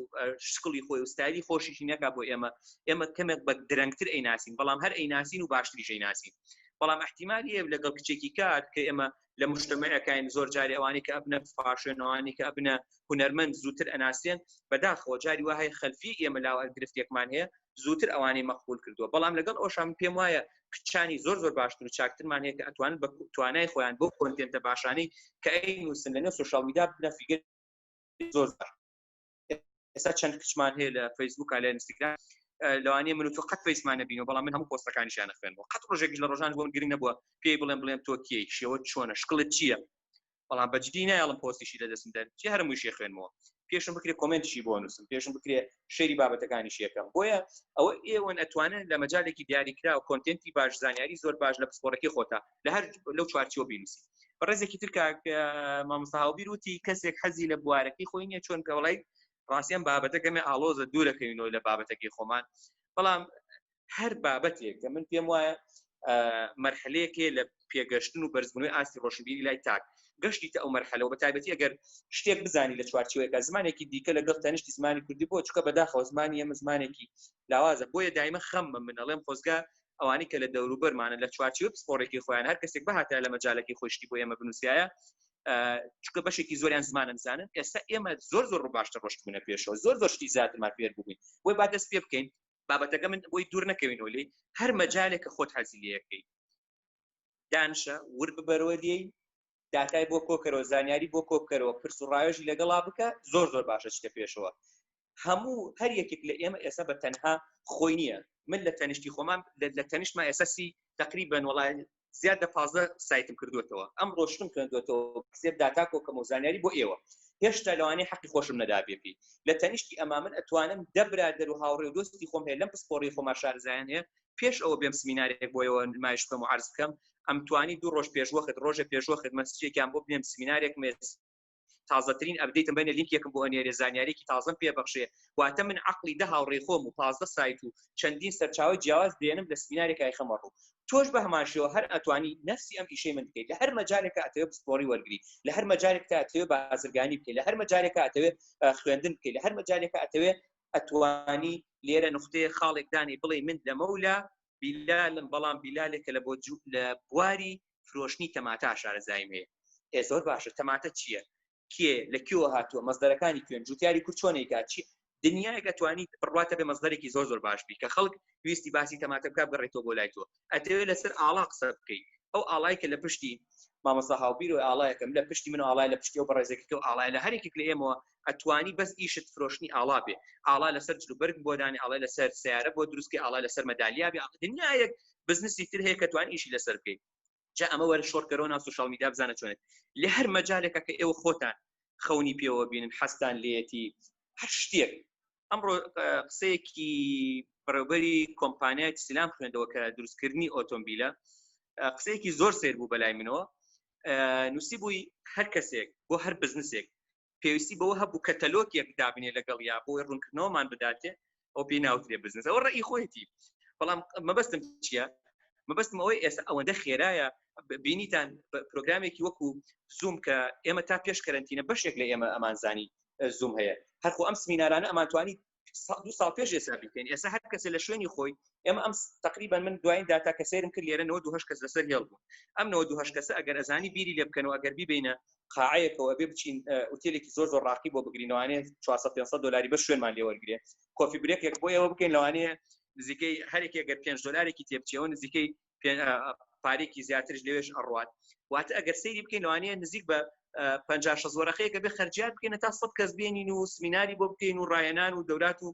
شکڵی خۆی و ستایلی خۆشیشی نەکا بۆ ئێمە ئێمە کەمێک بە درەنگتر ئەی ناسین بەڵام هەر ئەی ناسین و باشتریشەی ناسین بەڵام احتیمال یە لەگەڵ کچێکی کار کە ئێمە لە مشتمەکەین زۆر جاری ئەوانی کە ئەبنە فاشێنەوانی کە ئەبنە هوەرمەند زووتر ئەناسیێن بەداخەوە جاری وهەیە خەلفی ئێمە لاوە گرفتێکمان هەیە زووتر ئەوانەی مەقبول کردووە بەڵام لەگەڵ ئەوشان پێم وایە کچانی زۆر زۆر باشتر و چاکترمان هەیە کە ئەتوان بە توانای خۆیان بۆ کۆنتێنتە باشانەی کە ئەی نووسن لەنێو سوشال میدا بنە فیگەر زۆر ئێستا چەند کچمان هەیە لە فەیسبوک لە ئینستاگرام لەوانەیە من تو قەت فەیسمان نبینەوە بەڵام من هەموو پۆستەکانیشیان نخوێنەوە قەت ڕۆژێکیش لە ڕۆژان بۆم گرنگ نەبووە پێی بڵێم بڵێم تۆ کێی شێوە چۆنە شکڵت چییە بەڵام بەجدی نایڵم پۆستیشی لە دەستم دەر چی هەرم وشێ خوێنمەوە پێشم بکرێ کۆمنتشی بۆ نووسم پێشم بکرێ شەری بابەتەکانی شێکەم بۆیە ئەوە ئێوەن ئەتوانن لە مەجالێکی دیاریکرا و کۆنتنتی باش زانیاری زۆر باش لە پسپۆرەکەی خۆتا لە هەر لەو چوارچیەوە بینوسی بەڕێزێکی تر کاک مامۆستاهاوبیر وتی کەسێک حەزی لە بوارەکەی خۆی نیە چۆن کەوڵی ڕاستیان بابەتەکەمێ ئالۆزە دوورەکەینەوە لە بابەتەکەی خۆمان بەڵام هەر بابەتێک کە من پێم وایە مەرحلەیەکێ لە پێگەشتن و بەرزبوونەوەی ئاستی ڕۆشنبیری لای تاک گەشتی تا ئەو مەرحەلەوە بە تایبەتی ئەگەر شتێک بزانی لە چوارچوەکە زمانێکی دیکە لەگەڵ تەنیشتی زمانی کوردی بۆ چکە بەداخەوە زمانی ئەمە زمانێکی لاوازە بۆیە دایمە خەممە من ئەڵێم خۆزگە ئەوانی کە لە دەوروبەرمانە لە چوارچوە پسپۆڕێکی خۆیان هەر کەسێک بەهاتە لە مەجالەکی خۆشتی بۆ ئێمە بنووسایە چکە بەشێکی زۆریان زمانە بزانن ئێستا ئێمە زۆر زۆر ڕوو باشتر ڕشتبوونە پێشەوە زۆر زۆر شتی زیاترمان پێر بووین بۆی با دەست پێ بکەین بابەتەکە من بۆی دوور نەکەوینەوە لێی هەر مەجالێک کە خۆت حەزی لەکەی دانشە ور ببەرەوە لێی داتای بۆ کۆکەرەوە زانیاری بۆ کۆبکەرەوە پرس و ڕایۆژی لەگەڵا بکە زۆر زۆر باشە چکە پێشەوە هەموو هەر یەکێک لە ئێمە ئێستا بە تەنها خۆی نییە من لە تەنیشتی خۆمان لە تەنیشتما ئێسەسی تقریبن وڵای زیاد لە پازدە سایتم کردوێتەوە ئەم ڕۆشتم کردوێتەوە سێر داتا کۆکەم و زانیاری بۆ ئێوە هێشتا لەوانەیە حەقی خۆشم نەدابێپی لە تەنیشتی ئەما من ئەتوانم دەبرادەر و هاوڕێ و دۆستی خۆم هەیە لەم پسپۆڕی خۆما شارزایان هەیە پێش ئەوە بێم سمینارێک بۆیەوە نمایش بکەم و عرض بکەم ئەمتوانی دوو ڕۆژ پێشوەخت ڕۆژە پێشوەخت مەسجێکیان بۆ بێم سمینارێک مێز تازەترین ئەبدەیتم بەێ لینکێکم بۆ ئەنێرێ زانیارێکی تازم پێ بەخشێ واتە من عقلی دە هاوڕێ خۆم و پازدە سایت و چەندین سەرچاوی جیاواز دێنم لە سمینارێکای خەمەڕ و تۆش بە هەماشەوە هەر ئەتوانی نفسی ئەم ئیشەی من بکەیت لە هەر مەجارێکە ئەتەوێ پسپۆری وەرگری لە هەر مەجارێک تا ئەتەوێ بازرگانی بکەیت لە هەر مەجارێکە ئەتەوێ خوێندن بکەیت لە هەر مەجارێکە ئەتەوێ ئەتوانی لێرە نقطەیە خاڵێکدانی بڵێ من لەمەولا بیلالم بەڵام بیلالێکە لە بۆ لە بواری فرۆشتنی تەماتە شارەزایم هەیە ئێ زۆر باشە تەماتە چییە کێ لە کیوە هاتووە مەزدەرەکانی کوێن جوتیاری کورد چۆنێکا چی دنیایەکە توانی بڕاتە بێ مەزدەرێکی زۆر زۆر باش بی کە خەڵک ویستی باسی تەماتە بکە بڕێتەوە بۆ لای تۆ ئەتەوێت لەسەر ئاڵا قسە بکەیت ئەو ئاڵای کە لە پشتی مامەسا هاوبیرۆی ئاڵایەکەم لە پشتی من ئاڵای لە پشتی و بەڕێزێکی تۆ ئاڵای لە هەرێکێک لە ئێمەوە ئەتوانی بەس ئیشت فرۆشتنی ئاڵا بێ ئاڵا لەسەر جل و بەرگ بۆ دانێ ئاڵای لەسەر سیارە بۆ دروست کەی ئاڵای لەسەر مەدالیا بێ ئاڵا دنیا یەک بزنسی تر هەیە کە توانی ئیشی لەسەر بکەیت جا ئەمە وەرە شۆڕکەرەوە ناو سوشیال میدیا بزانە چۆنێت لە هەر مەجالێکە کە ئێوە خۆتان خەونی پێوە بینن حەستان لێتی هەر شتێک ئەمڕۆ قسەیەکی بەڕێوبەری کۆمپانیای سیلام خوێندەوە کە دروستکردنی ئۆتۆمبیلە قسەیەکی زۆر سێر بوو بەلای منەوە نووسی بووی هەر کەسێک بۆ هەر بزنسێک پێویستی بەوە هەبوو کەتەلۆکێک دابنێ لەگەڵ یا بۆی ڕوونکردنەوەمان بداتێ ئەو پێی ناوترێ بزنس ئەوە ڕێی خۆیەتی بەڵام مەبەستم چییە مەبەستم ئەوەی ئێستا ئەوەندە خێرایە بینیتان پرۆگرامێکی وەکو زوم کە ئێمە تا پێش کەرنتینە بەشێک لە ئێمە ئەمانزانی زووم هەیە هەرخۆ ئەم سمینارانە ئەمانتوانی دو ساڵ پێش ئێسا بکەین ئێسا هەر کەسە لە شوێنی خۆی ئێمە ئەم تقریبا من دوایین داتا کە سێرم کرد لێرە 92 کەس لەسەر هێڵ بوو ئەم 92 کەسە ئەگەر ئەزانی بیری لێ بکەن و ئەگەر بیبینە قاعەیەکەوە بێ بچین ئوتێلێکی زۆر زۆر ڕاقی بۆ بگرینەوانێ 400 500 دلاری بە شوێنمان لێ وەرگێ کۆفی برێکێک بۆ ئێوە بکەین لەوانەیە نزیکەی هەرێکی گەر پێنج دلارێکی تێبچەوە نزیکەی پارێکی زیاترش لەوێش ئەڕات واتە ئەگەر سەیری بکەین لەوانەیە نزیک بە پ زۆرەخەیەکە بێ خەرجیات بکەین تا سە کەس بێنین و سمیناری بۆ بکەین و ڕایەنان و دەورات و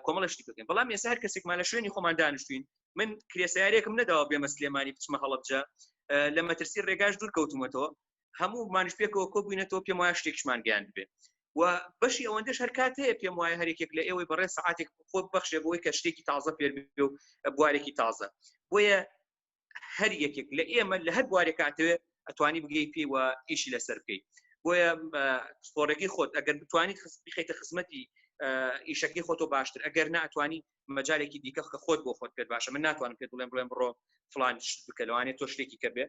کۆمەڵشتی بکەین بەڵام ێسا هەر کەسێکمان لە شوێنی خۆمان دانیشتوین من کرێسیارێکم نەداوە بێمە سلێمانی بچمە هەڵبجە لە مەترسی ڕێگاش دوور کەوتومەتەوە هەموو مانش پێکەوە کۆ بووینەتەوە پێم وایە شتێکشمان گەیان بێت و بەشی ئەوەندەش هەر کات هەیە پێم وایە هەرێکێک لە ئێوەی بەڕێ سعاتێک خۆ بەخشێ بۆی کە شتێکی تازە پێ و بوارێکی تازە بۆیە هەر یەکێک لە ئێمە لە هەر بوارێک کاتەوێت ئەتوانی بگەی پێی و ئیشی لەسەر بکەی بۆیە سپۆرەکەی خۆت ئەگەر بتوانیت بخیتە خزمەتی ئیشەکەی خۆتۆ باشتر ئەگەر ناتوانانی مەجالێکی دیکە کە خۆت بۆ خۆت پێت باشە من ناتوانم پێت بڵێم بڵێم بڕۆ فلان شت بکە لەوانێت تۆ شتێکی کە بێ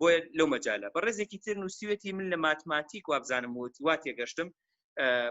بۆیە لەو مەجالە بە ڕێزێکی تر نووسیوێتی من لە ماتماتیک وابزانم وتی وا تێگەشتم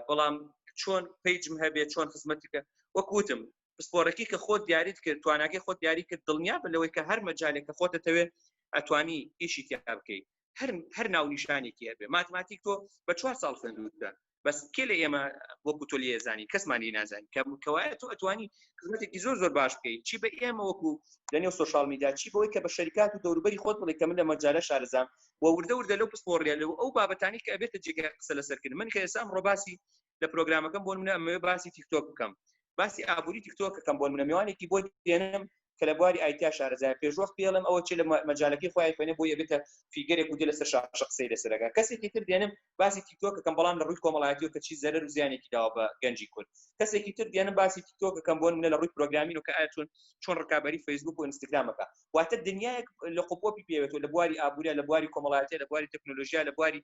بەڵام چۆن پیجم هەبێت چۆن خزمەتیکە وەکوتم پسپۆرەکەی کە خۆت دیاریت کرد تواناگەی خۆت دیاری کرد دڵنیا بە لەوەی کە هەر مەجالێک کە خۆتە تەوێت ئەتوانی ئیشی تیا بکەیت هەر هەر ناو نیشانێکی هەبێ ماتماتیک تۆ بە چوار ساڵ خوێندوتە بەس کێ لە ئێمە وەکو تۆ لێ زانی کەسمانی نازانی کە کەوایە تۆ ئەتوانی خزمەتێکی زۆر زۆر باش بکەیت چی بە ئێمە وەکو لەنێو سوۆشال میدا چی بەوەی کە بە شەریکات و دەوروبەری خۆت بڵێ کە من لە مەجارە شارزام و وردە وردە لەو پسپۆڕیە لەو ئەو بابەتانی کە ئەبێتە جێگە قسە لەسەرکرد من کە ئێسام ڕۆباسی لە پرۆگرامەکەم بۆ منە ئەمەوێ باسی تیکتۆک بکەم باسی ئابووری تیکتۆکەکەم بۆ منە میوانێکی بۆ دێنم کە لە بواری ئایتیا شارەزایە پێشوەخت پێ ئەڵێم ئەوە چێ لە مەجالەکەی خۆی ئایفۆنە بۆی ئەبێتە فیگەرێک و دێ لەسەر شاشە قسەی لەسەر ئەکا کەسێکی تر دێنم باسی تیکتۆک دەکەم بەڵام لە ڕووی کۆمەڵایەتیەوە کە چی زەرەر و زیانێکی داوە بە گەنجی کورد کەسێکی تر دێنم باسی تیکتۆک دەکەم بۆ نمونە لە ڕووی پرۆگرامین و کە ئایا چۆن چۆن ڕکابەری فەیسبوک و ئینستاگرامەکە واتە دنیایەک لە قوپۆپی پێوێتەوە لە بواری ئابووریا لە بواری کۆمەڵایەتیە لە بواری تەکنۆلۆژیا لە بواری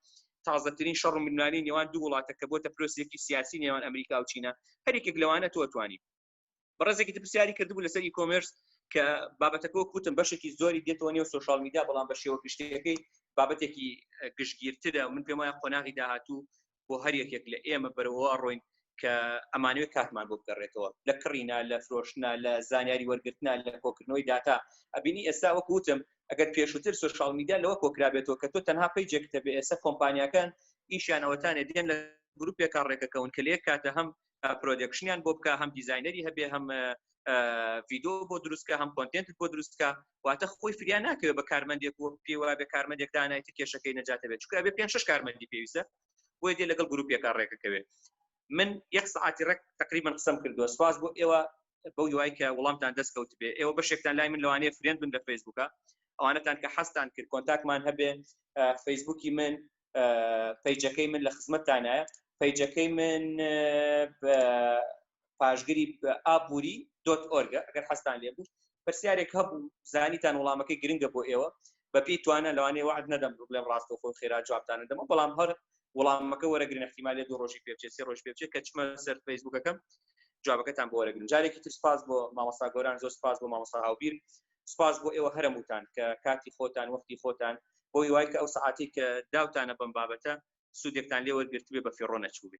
تازەترین شەڕ و ململانێی نێوان دوو وڵاتە کە بۆتە پرۆسێکی سیاسی نێوان ئەمریکا و چینە هەر یەکێک لەوانە تۆ توانی بەڕێزێکی پرسیاری کردبوو لەسەر ئی کۆمێرس کە بابەتەکە کوتم بەشێکی زۆری دێتەوە نێو سوۆشال میدیا بەڵام بە شێوە گشتەکەی بابەتێکی گشتگیرترە من پێم وایە قۆناغی داهاتوو بۆ هەر یەکێک لە ئێمە بەرەوە ڕۆین کە ئەمانوێت کاتمان بۆ بگەڕێتەوە لە کڕینا لە فرۆشتنا لە زانیاری وەرگرتنا لە کۆکردنەوەی داتا ئەبینی ئێستا وەکوتم ئەگەر پێشووتر سوشال میدیا لەوە کۆکرابێتەوە کە تۆ تەنها پیجێکتە بێ ئێستا کۆمپانیەکان ئیشیانەوەتانێ دێن لە گروپێکا ڕێکەکەون کە لێک کاتە هەم پرۆدەکشنیان بۆ بکە هەم دیزینەری هەبێ هەم ڤیددیو بۆ دروستکە هەم کۆنتنت بۆ دروستکە واتە خۆی فریا ناکەوێت بە کارمەندێک و پێوا بە کارمەندێک دانایتە کێشەکەی نەجاتە بێت چکە بێ پێ شش کارمەندی پێویستە بۆی دێ لەگەڵ گروپێکە ڕێکەکەوێت من یەک سعاتی ڕێک تقریبا قسم کردووە سواز بۆ ئێوە بەو یوای کە وڵامتان دەست کەوت بێ ئێوە بەشێکتان لای من لەوانەیە فرێن بن لە فەیسبوکە ئەوانەتان کە حەستان کرد کۆنتاکمان هەبێ فەیسبوکی من پەیجەکەی من لە خزمەتتانایە پەیجەکەی من پاشگری ئابووری دۆت ئۆرگە ئەگەر حەستان لێ بوو پرسیارێک هەبوو زانیتان وڵامەکەی گرنگە بۆ ئێوە بەپی توانە لەوانێ وعد نەدەم بڵێم ڕاستە خۆ خێرا جوابتان دەمە بەڵام هەر وڵامەکە وەرەگرن احتیمالێ دوو ڕۆژی پێچێ سێ ڕۆژ پێچێت کە چمە سەر فەیسبوکەکەم جوابەکەتان بۆ وەرەگرن جارێکی تر سپاس بۆ مامەسا گۆران زۆر سپاس بۆ مامەسا هاوبیر سپاس بۆ ئێوە هەرمووتان کە کاتی خۆتان وەختی خۆتان بۆی وای کە ئەو سعاتی کە داوتانە بەم بابەتە سوودێکتان لێ وەرگرتبێ بە فیڕۆ نەچووبێ